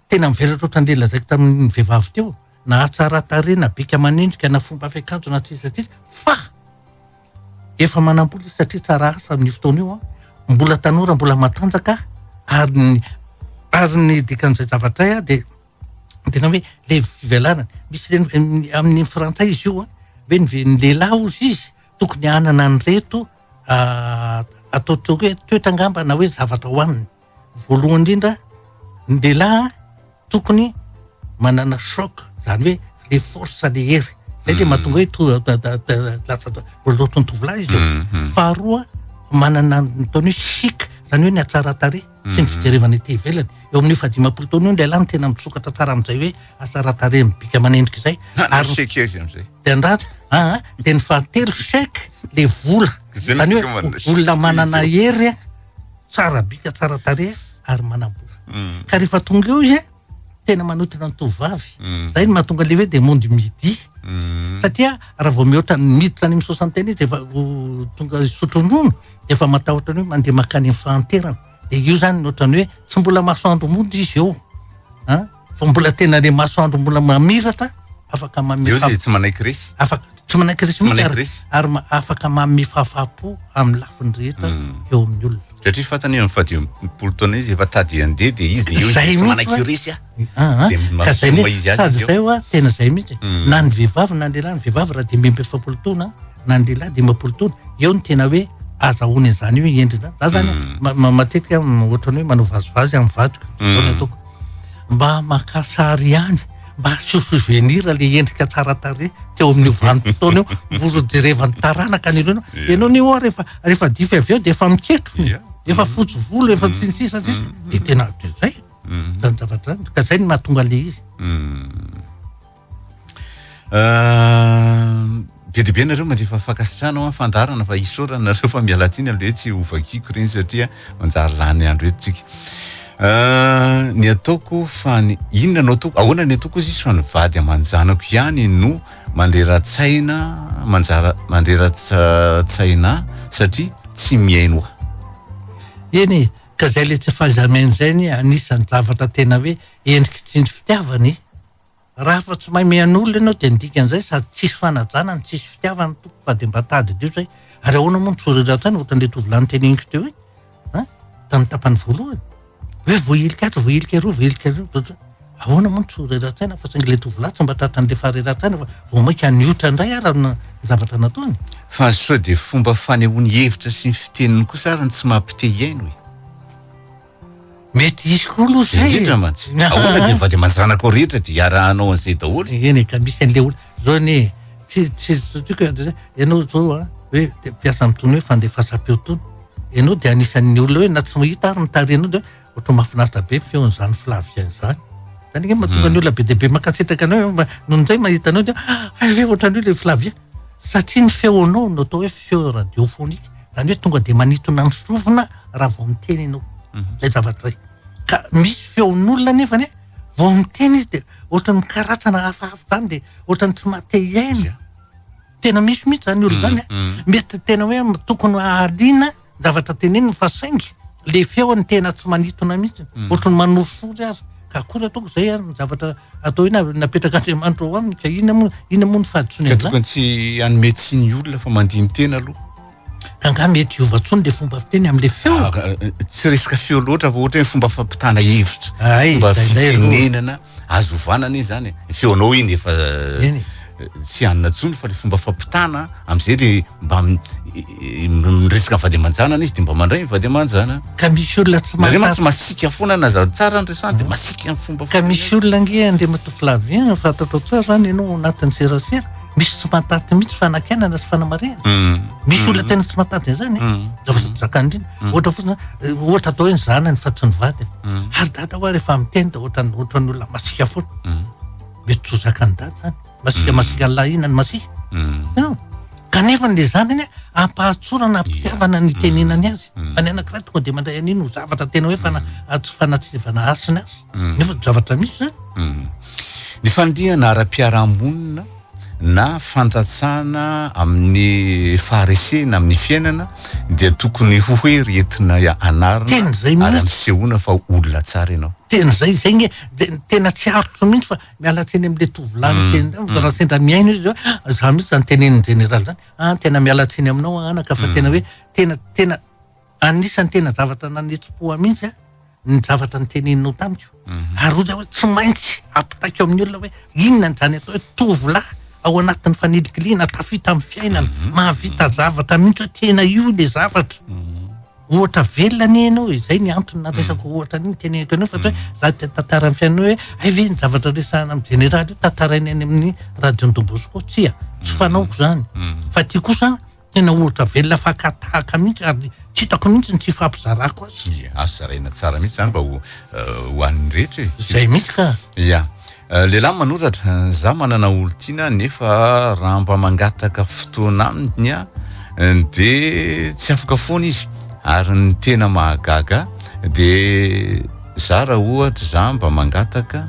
Tena mivelatra ohatran'ireny lazaiko tamin'ny vehivavy teo, na hatsara tarehy na bika aman'endrika na fomba fiakanjo na sisa sisa fa efa manam-bola izy satria tsara asa amin'io fotoana io an, mbola tanora mbola matanjaka ary ny ary ny dikan'izay zavatra izay an dia tena hoe ilay fivelarany, misy ireny amin'ny frantsay izy io an, hoe ny lehilahy hozy izy tokony hanana an'ireto atao toetra angamba na hoe zavatra hohaniny. Voalohany indrindra, ny lehilahy tokony manana choc, izany hoe le force le hery. Izay dia mahatonga hoe to- da- da- da- lasa loatra ny tovolahy izy io. Mhm. Faharoa, manana ny ataony hoe chic, izany hoe ny hatsaran-tarehy sy ny fijerevana ety ivelany. Eo amin'ny efa dimampolo taona eo ny lehilahy no tena misokatra tsara amin'izay hoe hatsaran-tarehy mibika aman'endrika izay. Ary Nasiaka izy amin'izay. de andratra aa de ny fahatelo chèque le vola zany hoe olona manana hery tsara bika tsara tarehy ary manambola mm. ka rehefa tonga eo izy a tena manotrona ny tovovavy mm. zay ny mahatonga le hoe de monde midi mm. satria raha vao mihoatra ny miditra any amin'ny soixantaine izy efa tonga sotro ronono de efa matahotra ny hoe mandeha makany amin'ny fahanterana de io zany ny ohatrany hoe tsy mbola mahasoandro mody izy eo a Fa mbola tena le masoandro mbola mamiratra, afaka mamiratra. Eo dia tsy manaiky resy. Afaka tsy manaiky resy mihitsy ary, ary afaka mamehy fahafahampo amin'ny lafiny rehetra hmm. eo amin'ny olona. Satria fantany amin'ny fahadimapolo taona izy efa tady handeha dia izy dia eo izy tsy manaiky io resy ah. ah, ah. Dia mahasoa izy azy. Sady izay hoa tena izay mihitsy. Hmm. Na ny vehivavy na ny lehilahy, ny vehivavy raha dimy amby efapolo taona na ny lehilahy dimampolo taona, eo ny tena hoe azahoany an'izany hoe endriny izany. Za zany hmm. matetika ohatrany hoe manao vazivazy amin'ny vadiko. Zao ny ataoko. mba maka sary ihany mba aseho souvenir le endrika tsara tarehy teo amin'io vanim-potoana io mba ho jerevan'ny taranaka ny olona Yeah. ianao ny oa rehefa rehefa dify avy eo dia efa miketro ny Yeah. efa fotsy volo efa tsy ny sisa ny sisa dia tena dia zay Mm. zany zavatra zany ka zay no mahatonga le izy Mm. Be dia be nareo mandefa fankasitrahana ho an'ny fandaharana fa isaorana nareo fa mialatsiny aloha hoe tsy ho vakiako ireny satria manjary lany andro eto tsika. Euh, ny ataoko fa ny inona no ataoko ahoana ny ataoko izy fa ny vady aman-janako ihany no mandrera-tsaina manjara mandrera-tsaina satria tsy mihaino aho eny e, ka zay le tsy fahaiza-mihaino zay anie anisan'ny zavatra tena hoe endriky tsindry fitiavana e Raha fa tsy mahay mihaino olona ianao dia ny dikan'izay sady tsisy fanajana no tsisy fitiavana no tompoko fa dia mba tadidio izay ary ahoana moa ny tsoratra an-tsaina ohatran'ilay tovolahy noteneniko teo iny an tamin'ny tapany voalohany hoe voahilika ato voahilika eroa voahilika eroa ahoana moa ny tsoratra an-tsaina fa saingy ilay tovolahy tsy mba tratran'ilay faharerahan-tsaina fa vao mainka niotra indray ary ny zavatra nataony fa sao dia fomba fanehoany hevitra sy ny fiteniny kosa ary ny tsy mampite hihaino e Mety hisy koa aloha zay. Indrindra mantsy. Ahoana dia ny vady aman-janako rehetra dia iarahanao an'izay daholo? Eny e, ka misy an'ilay olona zao anie e, tsy tsy tiko e, ianao zao a, hoe mpiasa amin'itony hoe fandefasam-peo itony, ianao dia anisan'ny olona hoe na tsy mahita ary mitarika anao dia hoe ohatran'ny mahafinaritra be ny feon'izany filavika izany. Izany ange mahatonga ny olona be dia be mankasitraka anao, noho izay mahita anao dia hay ve ohatran'io ilay filavia. Satria ny feonao no atao hoe feo radiophonique, izany hoe tonga dia manintona ny sofina raha vao miteny ianao. Mhm. Izay zavatra izay. Ka misy feon'olona nefa anie, vao miteny izy dia ohatrany mikaratsana hafahafa izany dia ohatrany tsy mahate hiaina. Tena misy mihitsy izany olona izany. Mhm, mhm. Mety tena hoe tokony hahaliana Zavatra teneniny fa saingy le feony tena tsy manitona mihitsy mm. ohatry ny manorisory azy ka akory ataoko zay ary ny zavatra atao ina napetraka andriamanitra ao aminy ka ina moa ina moa ny fahadisoana ka tokony tsy anome tsy ny olona fa mandiny tena aloha ka nga mety hiova tsony le fomba fiteny am'le feo ah, eh, tsy resaka feo loatra fa ohatra ny fomba fampitana hevitra fomba fitenenana Azo ovana anie zany e. Ny feonao iny efa Eny. tsy hanina intsony fa le fomba fampitana am'zay le mba m- i- i- miresaka ny vady aman-janany izy de mba mandray ny vady aman-janany. Ka misy olona tsy Nareo mantsy mahafantatra masiaka foana na za- tsara ny resahana de masiaka ny fomba ka foana. misy olona ange Andriamatoa Flavien fantatrao tsara zany ianao ao anatin'ny serasera misy tsy mahataty mihitsy fanakianana sy fanamarihana Hum. misy olona tena tsy mahataty an'izany e Hum. Zavatra tsy zakany indrindra. Mm. ohatra fotsiny eh, ohatra atao hoe ny zanany fa tsy ny vadiny mm. ary dada hoa rehefa miteny da ohatra ohatra ny olona masika foana mm. mety tsy hozakany dada zany masika masika ny lahina ny masika kanefa n'le zanany ampahatsorana ampitiavana ny tenenany azy fa ny anakiray tonga de mandray an'iny ho zavatra tena hoe fana tsy fanatsivana asiny azy nefa zavatra misy zany ny fandihana ara-piarahamonina na fantatsana amin'ny faharesena amin'ny fiainana dia tokony ho hoe ry entina anarina ary ampisehoana fa olona tsara ianao. Teny izay, izay nge tena tsy arotro mihintsy fa miala tsiny amin'ilay tovolahy niteny tamiko fa raha sendra mihaino izy hoe ah, izany mihintsy izany tenenin'i Jeneraly izany, ah tena miala tsiny aminao anaka fa tena hoe tena tena Anisan'ny tena zavatra nanetsi-po ahy mihitsy ny zavatra noteneninao tamiko. Mhm. Ary hoy aho hoe tsy maintsy ampitaiko amin'ny olona hoe inona ny izany atao hoe tovolahy ao anatin'ny fanilikiliana tafita amin'ny fiainana, mhm. mahavita zavatra mihitsy hoe tena io ilay zavatra. Mhm. Ohatra velona anie ianao e, izay ny antony naresako ohatra an'iny teneniko anao fa hoe za te tantara amin'ny fiainana hoe hay ve ny zavatra resahana amin'ny jeneraly io tantaraina any amin'ny radion-dOmbosko tsia, tsy fanaoko izany. Fa ity kosa Tena ohatra velona fakatahaka mihitsy ary tsy hitako mihitsy ny tsy hifampizarako azy. Ia, azo zaraina tsara mihitsy izany mba ho ho an'ny rehetra e. Izay mihitsy ka. Ia. Lehilahy manoratra, za manana olon-tiana nefa raha mba mangataka fotoana aminy aho dia tsy afaka foana izy. Ary ny tena mahagaga ahy dia za raha ohatra za mba mangataka,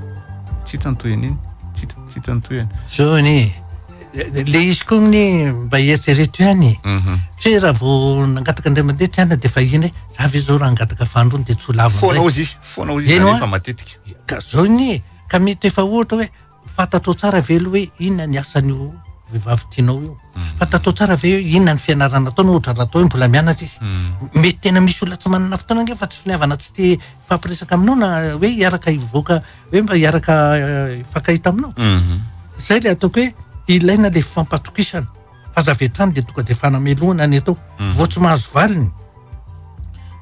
tsy hita ny tohiny iny? Tsy hita, tsy hita ny tohiny. Zao anie e. Le izy koa ny mba eritrereto ihany e. Mhm. Tsy hoe raha vao nangataka indray mandeha tsy anona dia vahiny hoe za ve zao raha hangataka fandrony dia tsy ho lavo Foana ozy izy, foana ozy izy rehefa matetika. Ka zao ny e, ka mety efa ohatra hoe fantatrao tsara ve aloha hoe inona ny asan'io vehivavy tianao io. Mhm. Fantatrao tsara ve hoe inona ny fianarana ataony ohatra raha atao hoe mbola mianatra izy. Mhm. Mety tena misy olona tsy manana fotoana ange fa tsy finiavana tsy te hifampiresaka aminao na hoe hiaraka hivoaka hoe mba hiaraka hifankahita aminao mhm. zay le ataoko hoe ilaina le fampatokisana fa za avy hatrany de tonga de fanamelohana ny atao mhm. vao tsy mahazo valiny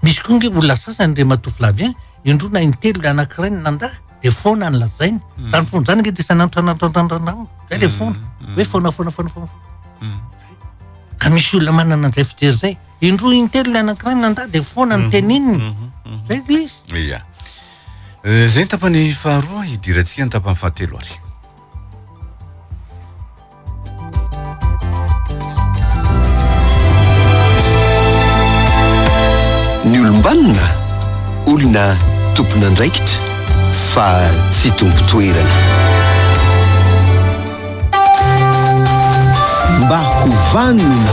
misy koa nge olona sasany re matovilavy an indroa na intelo le anankiray ny nanda de foana ny lazainy mhm. zany foana zany nge de sananotrananotrandrandranao zay le foana hoe foana foana foana foana foana ka misy olona manana an'izay fijery zay indroa intelo le anankiray ny nanda de foana ny tenininy zay le izy Izay ny tapany faharoa, hidirantsika ny tapany fahatelo ary. Ny olombanona, olona tompon'andraikitra fa tsy tompotoerana. mba ho vanona.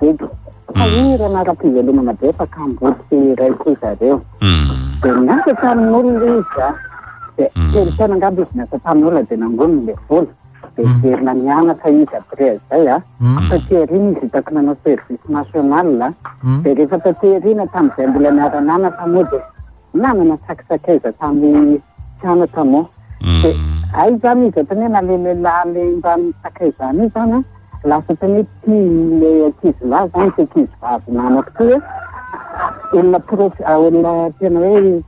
Eto. Fa io ireo nara-pivelomana betsaka hamboty iray koa zareo. Dia niasa tamin'olona izy a. Dia telo taona angamba izy niasa tamin'olona dia nangoniny ilay vola. Dia niverina nianatra izy après izay a. Taty aoriana izy hitako nanao service national a. Dia rehefa taty aoriana tamin'izay mbola niara-nianatra moa dia. Namana sakisakaiza tamin'ny mpianatra moa. Dia hay izany izy ohatran'ny hoe naleo lehilahy lehimbany sakaizany io izany an, lasa ohatran'ny hoe tia ilay ankizilahy izany ity ankizivavy namako ity hoe olona prof, olona tena hoe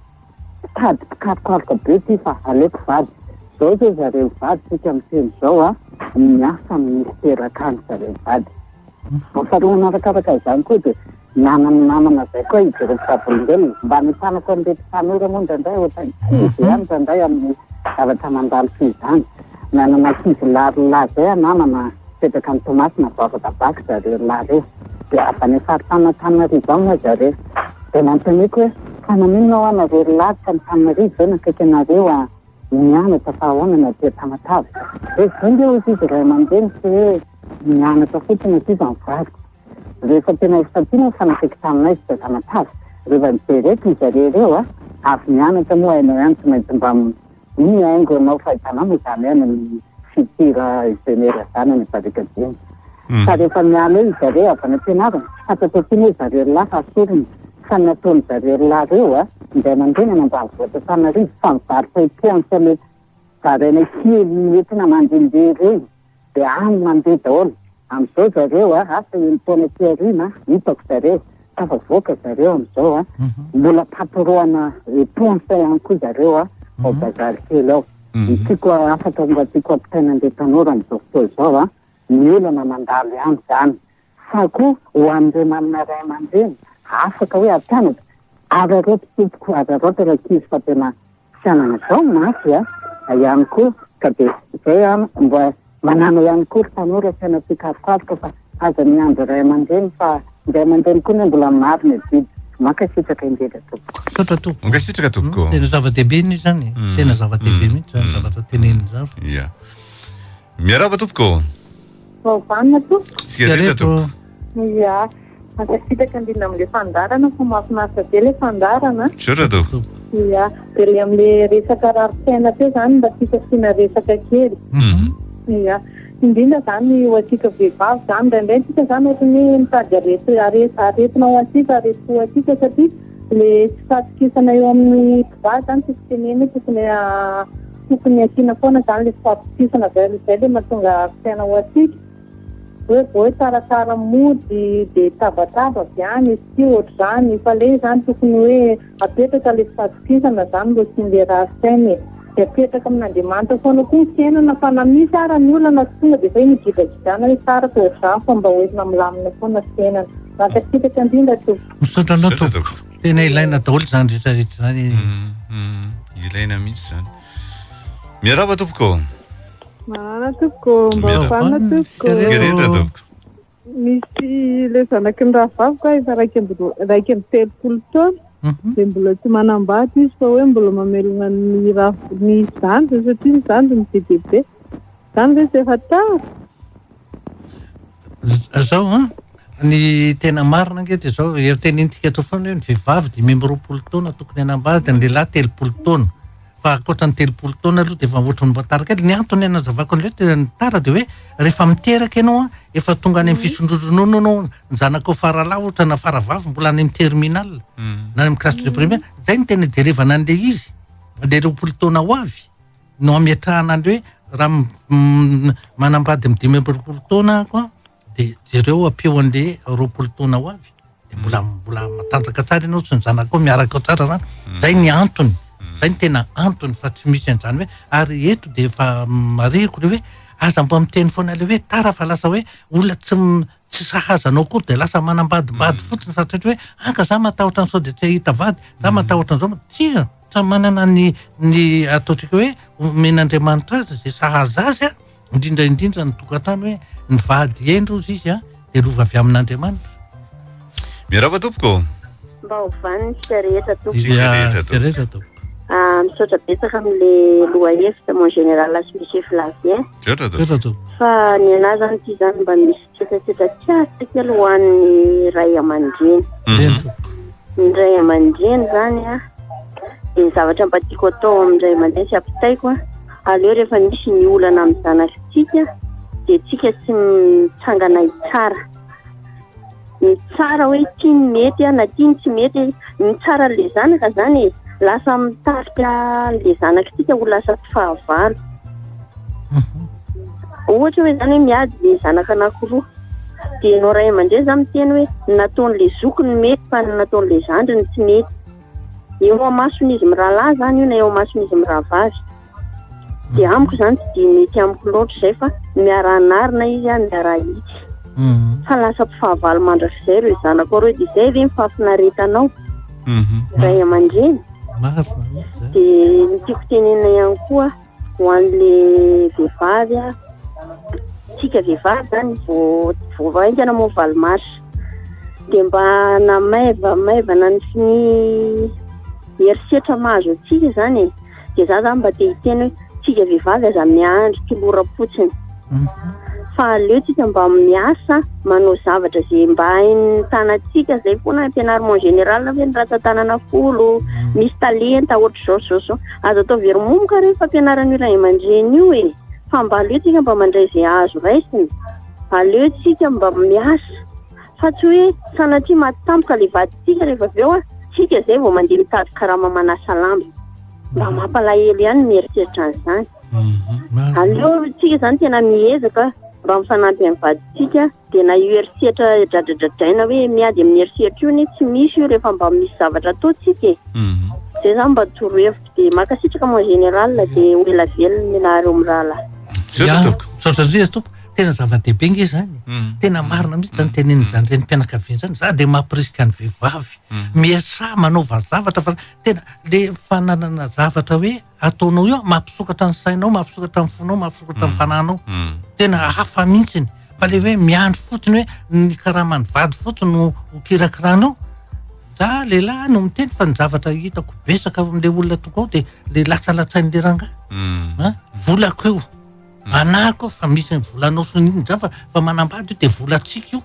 mpitady mpikarokaroka be ity fa aleoko vady. Izao izao ry zareo mivady isika miteny izao an, miasa amin'ny miteraka an-dry zareo mivady. Ahatsiarovana arakaraka izany koa dia. Naman'ny namana zay koa izy ireo mpivavolombelona. Mba ny tanak an'ireto tanora moa indraindray ohatrany tsy dia indraindray amin'ny zavatra mandalo toy izany. Nanana ankizy lahy roa lahy zay an namana an, mipetraka any Toamasina bavaka bac zareo lahy reo. Dia avy any faritany Antananarivo ao moa zareo. Dia nanontaniako hoe fa naninona hoa nareo ry lahy tsy an'Antananarivo ve nakaiky anareo an nianatra fa ahoana ny aty Tamatave. Dia zay nge hoy izy ray aman-dreny tsy hoe nianatra fotsiny aty fa nivadika. Rehefa tena efa santiono ny fanakaiky taminay ry Drazamatavy, reva mijery eto izy ary ireo a! avy nianatra moa hainao ihany tsy maintsy mba iny haingo hanao fahitana moa izany hoe any amin'ny future Genera izany any Barika Dimy fa rehefa miala eo izareo avy any am-pianarana tsy fantatro akory hoe zareo rolahy fa sorona fa ny ataon'ny zareo rolahy ireo a! ny ray aman-dreny any ambanivohitra Antananarivo fa mivarotra io points le zarainay kely entona mandehandeha ireny Dia any mandeha daholo. Amin'izao zareo a, asa enin-taona aty aoriana hitako zareo, tafavoaka zareo amin'izao a. Mbola patron-na ponts ihany koa zareo a, ao Bazary kely ao. Ny tiako a, hafatra mba tiako ampitaina an'ilay tanora amin'izao fotoana izao a, ny olana mandalo ihany izany. fa koa ho an'ireo manana ray aman-dreny afaka hoe hampianatra, araraoty tompoko, araraoty rankizy fa tena fianana zao ny mafy a, ihany koa ka dia zay a, mba manàna ihany koa ry tanora saina tsikarokaroka fa aza miandry ray aman-dreny fa ny ray aman-dreny koa anie mbola marina e biby, mankasitraka indrindra tompoko. Misaotra tompoko. Mankasitraka tompoko. Tena zava-dehibe anie izany e, tena zava-dehibe mihitsy izany zavatra teneniny izany. Ia. Miarahaba tompoko. Vao vanona tompoko. Tsy areta tompoko. Ia, mankasitraka indrindra amin'ilay fandaharana fa mahafinaritra be ilay fandaharana. Misaotra tompoko. Ia, dia ilay amin'ilay resaka rarin-tsaina teo izany mba tiako asiana resaka kely. Ia, indrindra izany ho antsika vehivavy izany, indraindray isika izany ohatran'ny hoe mitady areti- are- aretina ho antsika, aretim-po ho antsika satria ilay tsy fahatokisana eo amin'ny mpivady izany tiako tenenina io tokony a. Tokony asiana foana zany le fahatokisana zay aloha zay le mahatonga afisaina ho asika hoe vao hoe tsara tsara mody de tabataba avy any izy ty ohatr'izany fa le zany tokony hoe apetraka le fahatokisana zany mba tsy hindera afisaina e de apetraka amin'Andriamanitra foana koa ny fiainana fa na misy ara ny olana tsy tonga de zay migidragidrana hoe tsara fa ohatr'izany fa mba hoentina milamina foana fiainana mankasitraka indrindra tompoko. Misaotra anao tompoko. tena ilaina daholo zany retraretra zany e. mm, mm, ilaina mihitsy zany miaraba tompoko marana tompoko mba fanina tompoko rehetra tompoko misy le zanaky ny rahavaviko efa raika raika amby telopolo taona mhm. de mbola tsy manambady izy fa hoe mbola mamelona ny ra ny zandriny satria ny zandriny be dia be zany ve tsy efa tara Zao an, ny tena marina ange de zao, efa tenenintsika eto foana hoe ny vehivavy dimy amby roapolo taona tokony hanambady, ny lehilahy telopolo taona, fa ankoatra ny telopolo taona aloha de efa ohatran'ny mba tara kely, ny antony hanazavako an'le hoe tena tara de hoe rehefa miteraka ianao an, efa tonga any amin'ny fisondrotronoana ianao, ny zanakao faralahy ohatra na faravavy mbola any amin'ny terminal na any amin'ny classe de première, zay no tena ijerevana an'le izy, le roapolo taona ho avy. no ametrahana anle hoe raha manambady amin'ny dimy amby roapolo taona ako an, dia jereo ampio anle roapolo taona ho avy, dia mbola mbola matanjaka tsara ianao sy ny zanakao miaraka ao tsara zany, zay ny antony, zay ny tena antony fa tsy misy an'zany hoe, ary eto dia efa marihiko le hoe aza mba miteny foana le hoe tara fa lasa hoe olona tsy tsy sahaza anao akory dia lasa manambadibady fotsiny fa tsy hatry hoe anga za matahotra an'i sao dia tsy hahita vady, za matahotra an'zao, tsia. Samy manana ny ny ataontsika hoe omen'Andriamanitra azy izay sahaza azy a, indrindra indrindra ny tokantany hoe ny vady hendry hozy izy a dia lova avy amin'Andriamanitra. Miarahaba tompoko. Mba ho vanintsika rehetra tompoko. Tsika rehetra tompoko. Rehetra tompoko. Ah, misaotra betsaka amin'le lohahevitra mon général sy monsieur Flavien. Misaotra tompoko. Fa ny anah zany ty zany mba misy Fepetra tsara kely ho an'ny ray aman-dreny. Mhm. Ny ray aman-dreny zany a, dia ny zavatra mba tiako atao amin'ny ray aman-dreny sy ampitaiko a, aleo rehefa misy ny olana amin'ny zanatsika dia tsika tsy mitsangana hitsara. Ny tsara hoe ity ny mety a, na ity ny tsy mety. Ny tsara an'ilay zanaka zany e, lasa mitarika an'ilay zanak'tsika ho lasa tsy fahavalo. Mhm. Ohatra hoe zany hoe miady le zanaka anakiroa, dia ianao ray aman-dreny zany miteny hoe ny nataon'ilay zoky no mety fa ny nataon'ilay zandriny tsy mety. Eo amason'izy mirahalahy zany io na eo amason'izy mirahavavy. dia amiko izany tsy dia mety amiko loatra izay fa miara-anarina izy a miara-hitsy Mhm. fa lasa mpifahavalo mandrakizay ireo zanako ireo dia izay ve ny fahafinaretanao Mhm. ray aman-dreny Marina izany. dia ny tiako tenenina ihany koa ho an'le vehivavy a tsika vehivavy zany vao vao vaingana moa valo mars dia mba namaiva maivana ny ny herisetra mahazo antsika izany e dia za zany mba te hiteny hoe tsika vehivavy aza miandry toloram-potsiny fa aleo tsika mba miasa manao zavatra zay mba hain'ny tanatsika zay foana ampianarimo en général ve ny ratsatanana folo misy talenta ohatra zao zao zao aza atao very momoka rehefa ampianaran'io iray aman-dreny io e fa mba aleo tsika mba mandray zay azo raisina aleo tsika mba miasa fa tsy hoe sanatria maty tampoka ilay vadintsika rehefa avy eo isika izay vao mandeha mitady karama manasa lamba. Mba mampalahelo ihany ny mieritreritra an'izany. Mhm. Aleo tsika izany tena miezaka mba mifanampy amin'ny vadintsika dia na io herisetra dradradradraina hoe miady amin'ny herisetra io ne tsy misy io rehefa mba misy zavatra ataontsika e. Mhm. Zay zany mba torohevitro dia mankasitraka mon général dia ho ela velona ianareo mirahalahy. Misaotra tompoko. Misaotra indrindra tompoko. tena zava-dehibe nge zany mm. tena marina mihitsy zany mm. teneniny mm. zany renim-pianakaviana zany za de mampirisika ny vehivavy miasa manaova zavatra fa tena le fananana zavatra hoe ataonao io mampisokatra ny sainao mampisokatra ny fonao mampisokatra ny fananao tena hafa mihitsiny fa le hoe miandry fotsiny hoe ny karamany vady fotsiny no hokirakiranao za lehilahy no miteny fa ny zavatra hitako besaka amle olona toko ao de le latsalatsain'le rangah volako eo Manahaka aho fa misy ny volanao sy ny inona izany fa fa manambady io dia volantsika io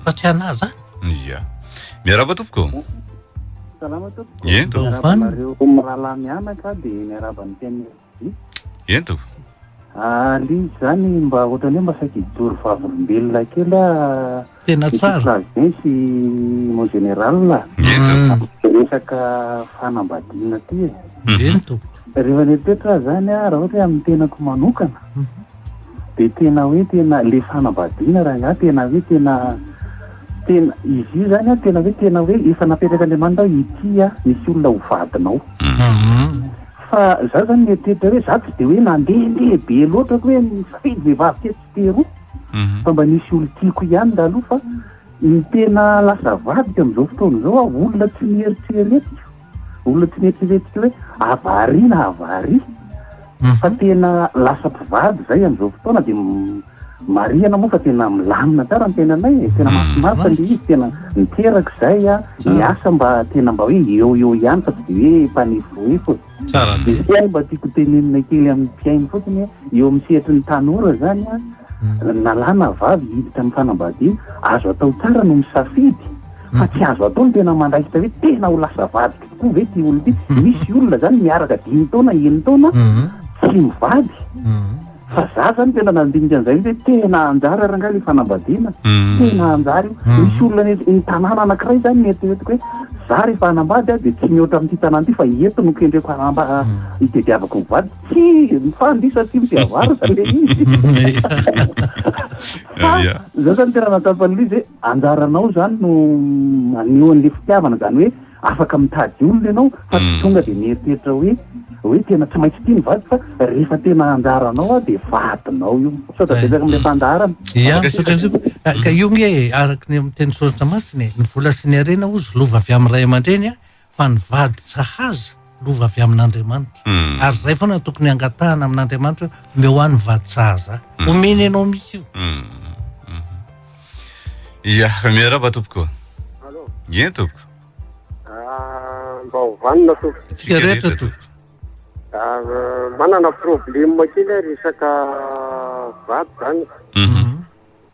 fa tsy anah izany. Ia. Miarahaba tompoko. Salama tompoko. Eny tompoko. Miarahaba anareo mirahalahy mianaka dia miarahaba ny mpianatra. Eny tompoko. Alio izany mba ohatran'ny hoe mba saika hijoro vavolombelona kely aho Tena tsara. Ny Flash Day sy Mon Général a. Ie tompoko. Resaka fanambadiana aty e. Ie ny tompoko. Rehefa le toetra aho zany a, raha ohatra hoe amin'ny tenako manokana, de tena hoe tena le fanambadiana rangaha tena hoe tena tena izy io zany a tena hoe tena hoe efa napetrak'Andriamanitra hoe ity a misy olona ho vadinao. Fa za zany mieritreritra hoe za tsy de hoe nandehandeha be loatra hoe nisafidy vehivavy tetsy Pero fa mba nisy olon-tiako ihany ndaloha fa ny tena lasa vadiko amin'izao fotoana izao aho olona tsy nieritreretiko olona tsy nieritreretiko hoe avari na avari mhm. fa tena lasa mpivady izay amin'izao fotoana dia marihana moa fa tena milamina tsara ny tenanay e. tena mhm. mahafinaritra le izy tena miteraka izay a ny asa mba tena mba hoe eo eo ihany fa tsy de hoe mpanefoefo e. Tsara be. Misy ihany mba tiako tenenina kely amin'ny mpihaino fotsiny hoe eo amin'ny sehatry ny tanora izany an, na lahy na vavy hiditra amin'ny fanambadiana, azo atao tsara no misafidy fa tsy azo atao ny tena mandraikitra hoe tena ho lasa vadiko tokoa ve ity olona ity. Misy olona izany miaraka dimy taona, enina taona tsy mivady. Fa za zany tena nandinika an'izay mihitsy hoe tena hanjary ary angaha le fanambadiana, tena hanjary io. Misy olona any ny tanàna anankiray zany nieritreretiko hoe za rehefa hanambady aho dia tsy mihoatra amin'ity tanàna ity fa eto no kendreko hanamba- hitediavako ny vady. Tsia, mifandy io satria mpihavaratra le izy. Fa za zany tena nataoko an'ilay izy hoe anjaranao zany no maneho an'le fitiavana, zany hoe. Afaka mitady olona ianao fa tsy tonga dia mieritreritra hoe hoe tena tsy maintsy tia ny vadiko fa rehefa tena anjaranao aho dia vadinao io. Misaotra betsaka amin'ilay fandaharana. Ia, misaotra indrindra. Ka ka io nge e, araka ny amin'ny tenin'ny soratra masina e, ny vola sy ny harena hozy lova avy amin'ny ray aman-dreny fa ny vady sahaza lova avy amin'Andriamanitra. Hmm. Ary zay foana tokony hangatahana amin'Andriamanitra hoe omeo ahy ny vaditsaha za. Hmm. Omeny ianao mihitsy io. Hmm. Ia, miaraba tompoko. Allo. Ie tompoko. Ah, mba ovanina tompoko. Tsika rehetra tompoko. Ah, manana problème kely resaka vato zany. Mhm.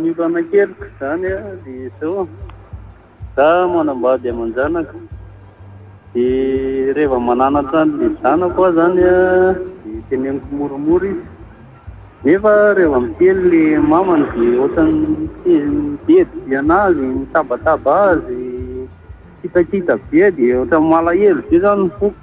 Ny olanakeriko izany dia izao, za manambady aman-janaka dia reva mananatra an'le zanako aho zany dia teneniko moramora izy nefa reva miteny le mamany dia ohatrany midedy be anazy, mitabataba azy, kitakita be dia ohatrany malahelo be zany ny foko.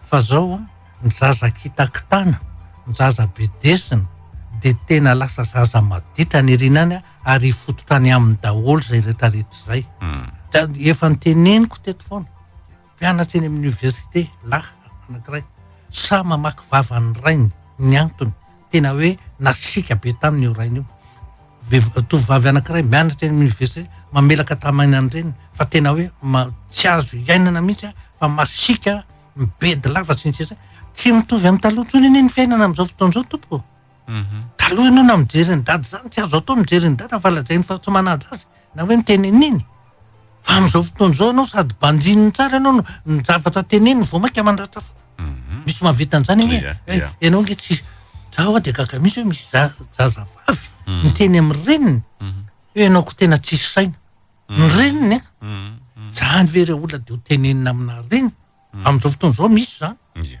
Fa zao ny zaza kitakitana, ny zaza bedesina dia tena lasa zaza maditra any aoriana any ary hifototra any aminy daholo izay retraretra izay. Ka efa niteneniko teto foana, mpianatra eny amin'ny université lahy anankiray, sahy mamaky vavan'ny rainy, ny antony, Tena hoe nasiaka be taminy io rainy io. Vev- tovovavy anankiray mianatra eny amin'ny université, mamelaka tamaina ny reniny fa tena hoe ma- tsy azo iainana mihitsy a, fa masiaka, mibedy lava sy ny sisa. Tsy mitovy amin'ny taloha intsony anie ny fiainana amin'izao fotoana izao tompoko. Taloha ianao na mijery an'i dada izany tsy azo atao mijery an'i dada fa lazainy fa tsy manaja azy na hoe miteny an'iny. Fa amin'izao fotoana izao ianao sady banjininy tsara ianao no ny zavatra teneniny vao mainka mandratra fo. Mhm. Misy mahavita an'izany anie. Iya, Eh, iya. Ianao nge tsy za hoa dia gaga mihitsy hoe misy za- zazavavy Mhm. miteny amin'ny reniny Mhm. hoe ianao ko tena tsisy saina. Ny reniny eh, Mhm. Mhm. zany ve re olona dia ho tenenina aminà reniny. Amin'izao fotoana izao misy zany. Iya.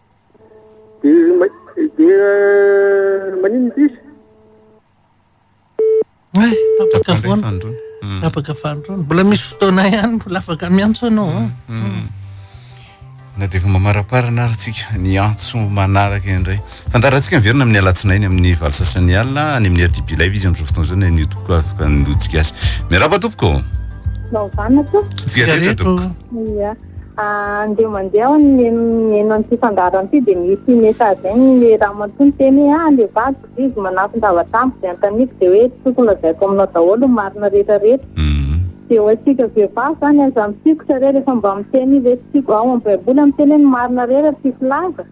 Dia maninona sisa? Hay, tapaka foana. Tapaka fandroana. Mbola misy fotoana ihany, mbola afaka miantso ianao. Mm, mm, mm. Na dia efa mamaraparana ary tsika ny antso manaraka indray. Fandarantsika miverina amin'ny alatsinainy amin'ny valo sasany alina any amin'ny RDB Live izy amin'izao fotoana izao na ny tompoko afaka ny lotsika azy. Miarahaba tompoko. Naovana tompoko. Tsika rehetra tompoko. Andeha mandeha aho mihaino an'ity fandaharana ity dia misy message an'ny ramatoa miteny hoe ah le vadiko vizzy manafin-javatra amiko dia anontaniko dia hoe tokony lazaiko aminao daholo ny marina rehetra rehetra dia ho antsika vehivavy zany aza mitsikotra re rehefa mba miteny hoe tsy tiako ao amin'ny baiboly miteny hoe ny marina re raha tsy filaza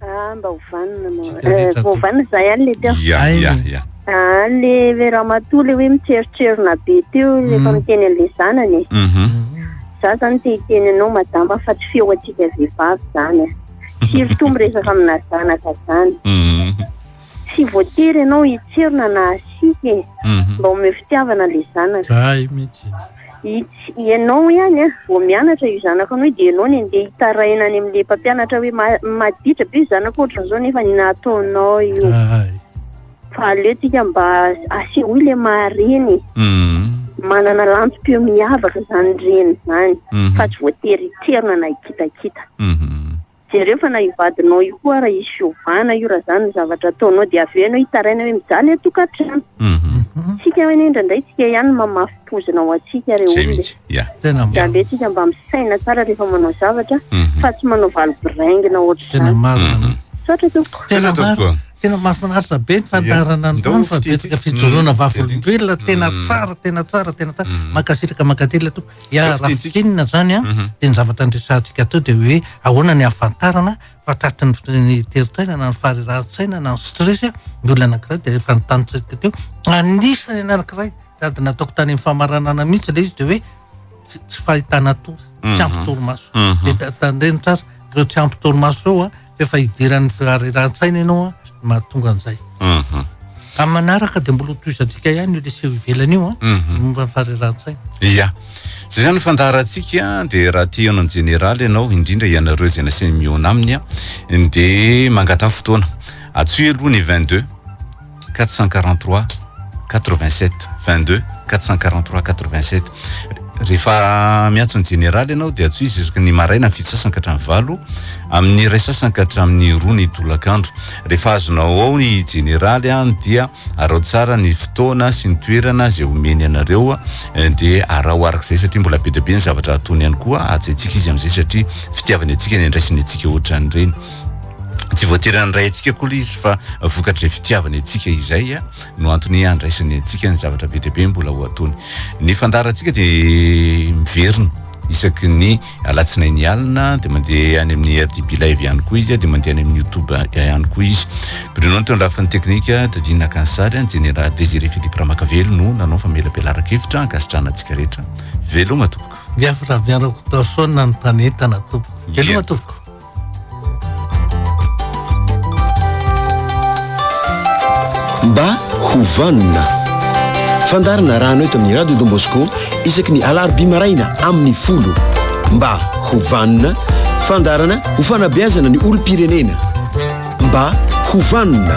Ah, mba ho vanona ma. Vita rehetra Eh, vao atao. vanona izahay any le teo. Ya, Ay. ya, ya. Ah, le le ramatoa le hoe mitseritserona be teo Mm. rehefa miteny an'le zanany. e. Mhm. Za zany te hiteny anao madama fa tsy feo antsika vehivavy zany. e. Firy toa miresaka amina zanaka zany. Mhm. Tsy voatery ianao hitsiro na nahasiaka e. Mba omeo fitiavana le zanaka. Zay mitsy. Its ianao ihany a, vao mianatra io zanako anao io dia ianao ny andeha hitaraina any amin'le mpampianatra hoe ma maditra be zanako ohatran'izao nefa ny nataonao io. Hay. Fa aleo tsika mba asehoy le maha reny e. Manana lantsom-peo miavaka zany reny zany fa tsy voatery hitsirona na hikitakita. Jereo fa na io vadinao io koa ary hisy fiovana io raha zany ny zavatra ataonao dia avy eo ianao hitaraina hoe mijaly ny tokantrano. Tsika anie indraindray tsika ihany no mamafy pozina ho antsika re olona e. Mijaly tsika mba misaina tsara rehefa manao zavatra fa tsy manao valy biraingina ohatr'izany. Misaotra tompoko. Tena marina, tena mahafinaritra be ny fandaharana ny tany fa betsaka fijoroana vavolombelona, tena tsara, tena tsara, tena tsara, mankasitraka, mankatelina tompoko. Ya raha fintinina zany an, dia ny zavatra niresahantsika teo dia hoe ahoana ny ahafantarana fa tratry ny fi- ny terin-tsaina na ny faharerahan-tsaina na ny stress ny olona anankiray dia efa notanisatsika teo anisany anankiray sady nataoko tany amin'ny famaranana mihitsy ilay izy dia hoe tsy tsy fahitana tory tsy ampy torimaso dia ta- tandremo tsara ireo tsy ampy torimaso ireo a efa hidiran'ny firariran-tsaina ianao a, no mahatonga an'izay. Mhm. Amin'ny manaraka dia mbola hotohizantsika ihany io leseho ivelany io a, Mhm. momba ny fahariran-tsaina. Ia. Izay izany ny fandaharantsika, dia raha te hihaona amin'ny Jeneraly ianao, indrindra ianareo izay nasainy mihaona aminy, dia mangatà fotoana. Antsoy aloha ny 22. quatre cent quarante trois quatre vingt sept vingt deux quatre cent quarante trois quatre vingt sept rehefa miantso ny jeneraly ianao dia atsoizy isaky ny maraina ny fito sasany ka hatramin'ny valo amin'ny iray sasany ka hatramin'ny roa ny tolakandro rehefa azonao ao ny jeneraly an dia arao tsara ny fotoana sy ny toerana izay omeny anareo eh, dia arao arak'izay satria mbola be dia be ny zavatra atony ihany koa ajaintsika izy amin'izay satria fitiavany antsika ny andraisany antsika ohatran'ireny tsy voatery handray antsika koa le izy fa vokatry fitiavany antsika izay a no antony handraisany antsika ny zavatra be dia be mbola ho ataony ny fandaharantsika de miverina isaky ny alatsinainy alina de mandeha any amin'ny rdb live ihany koa izy de mandeha any amin'ny youtube ihany koa izy Bruno teo andrafin'ny teknika Dadine Nakansary ny Jenera Désiré Philippe Ramakavelo no nanao famelabelaran-kevitra ankasitrahana antsika rehetra veloma tompoko Biafra miarako torchon an'ny mpanentana tompoko veloma tompoko Mba ho vanona. Fandaharana rano eto amin'ny Radio Don Bosco isaky ny alarobia maraina amin'ny folo. Mba ho vanona. Fandaharana ho fanabeazana ny olom-pirenena. Mba ho vanona.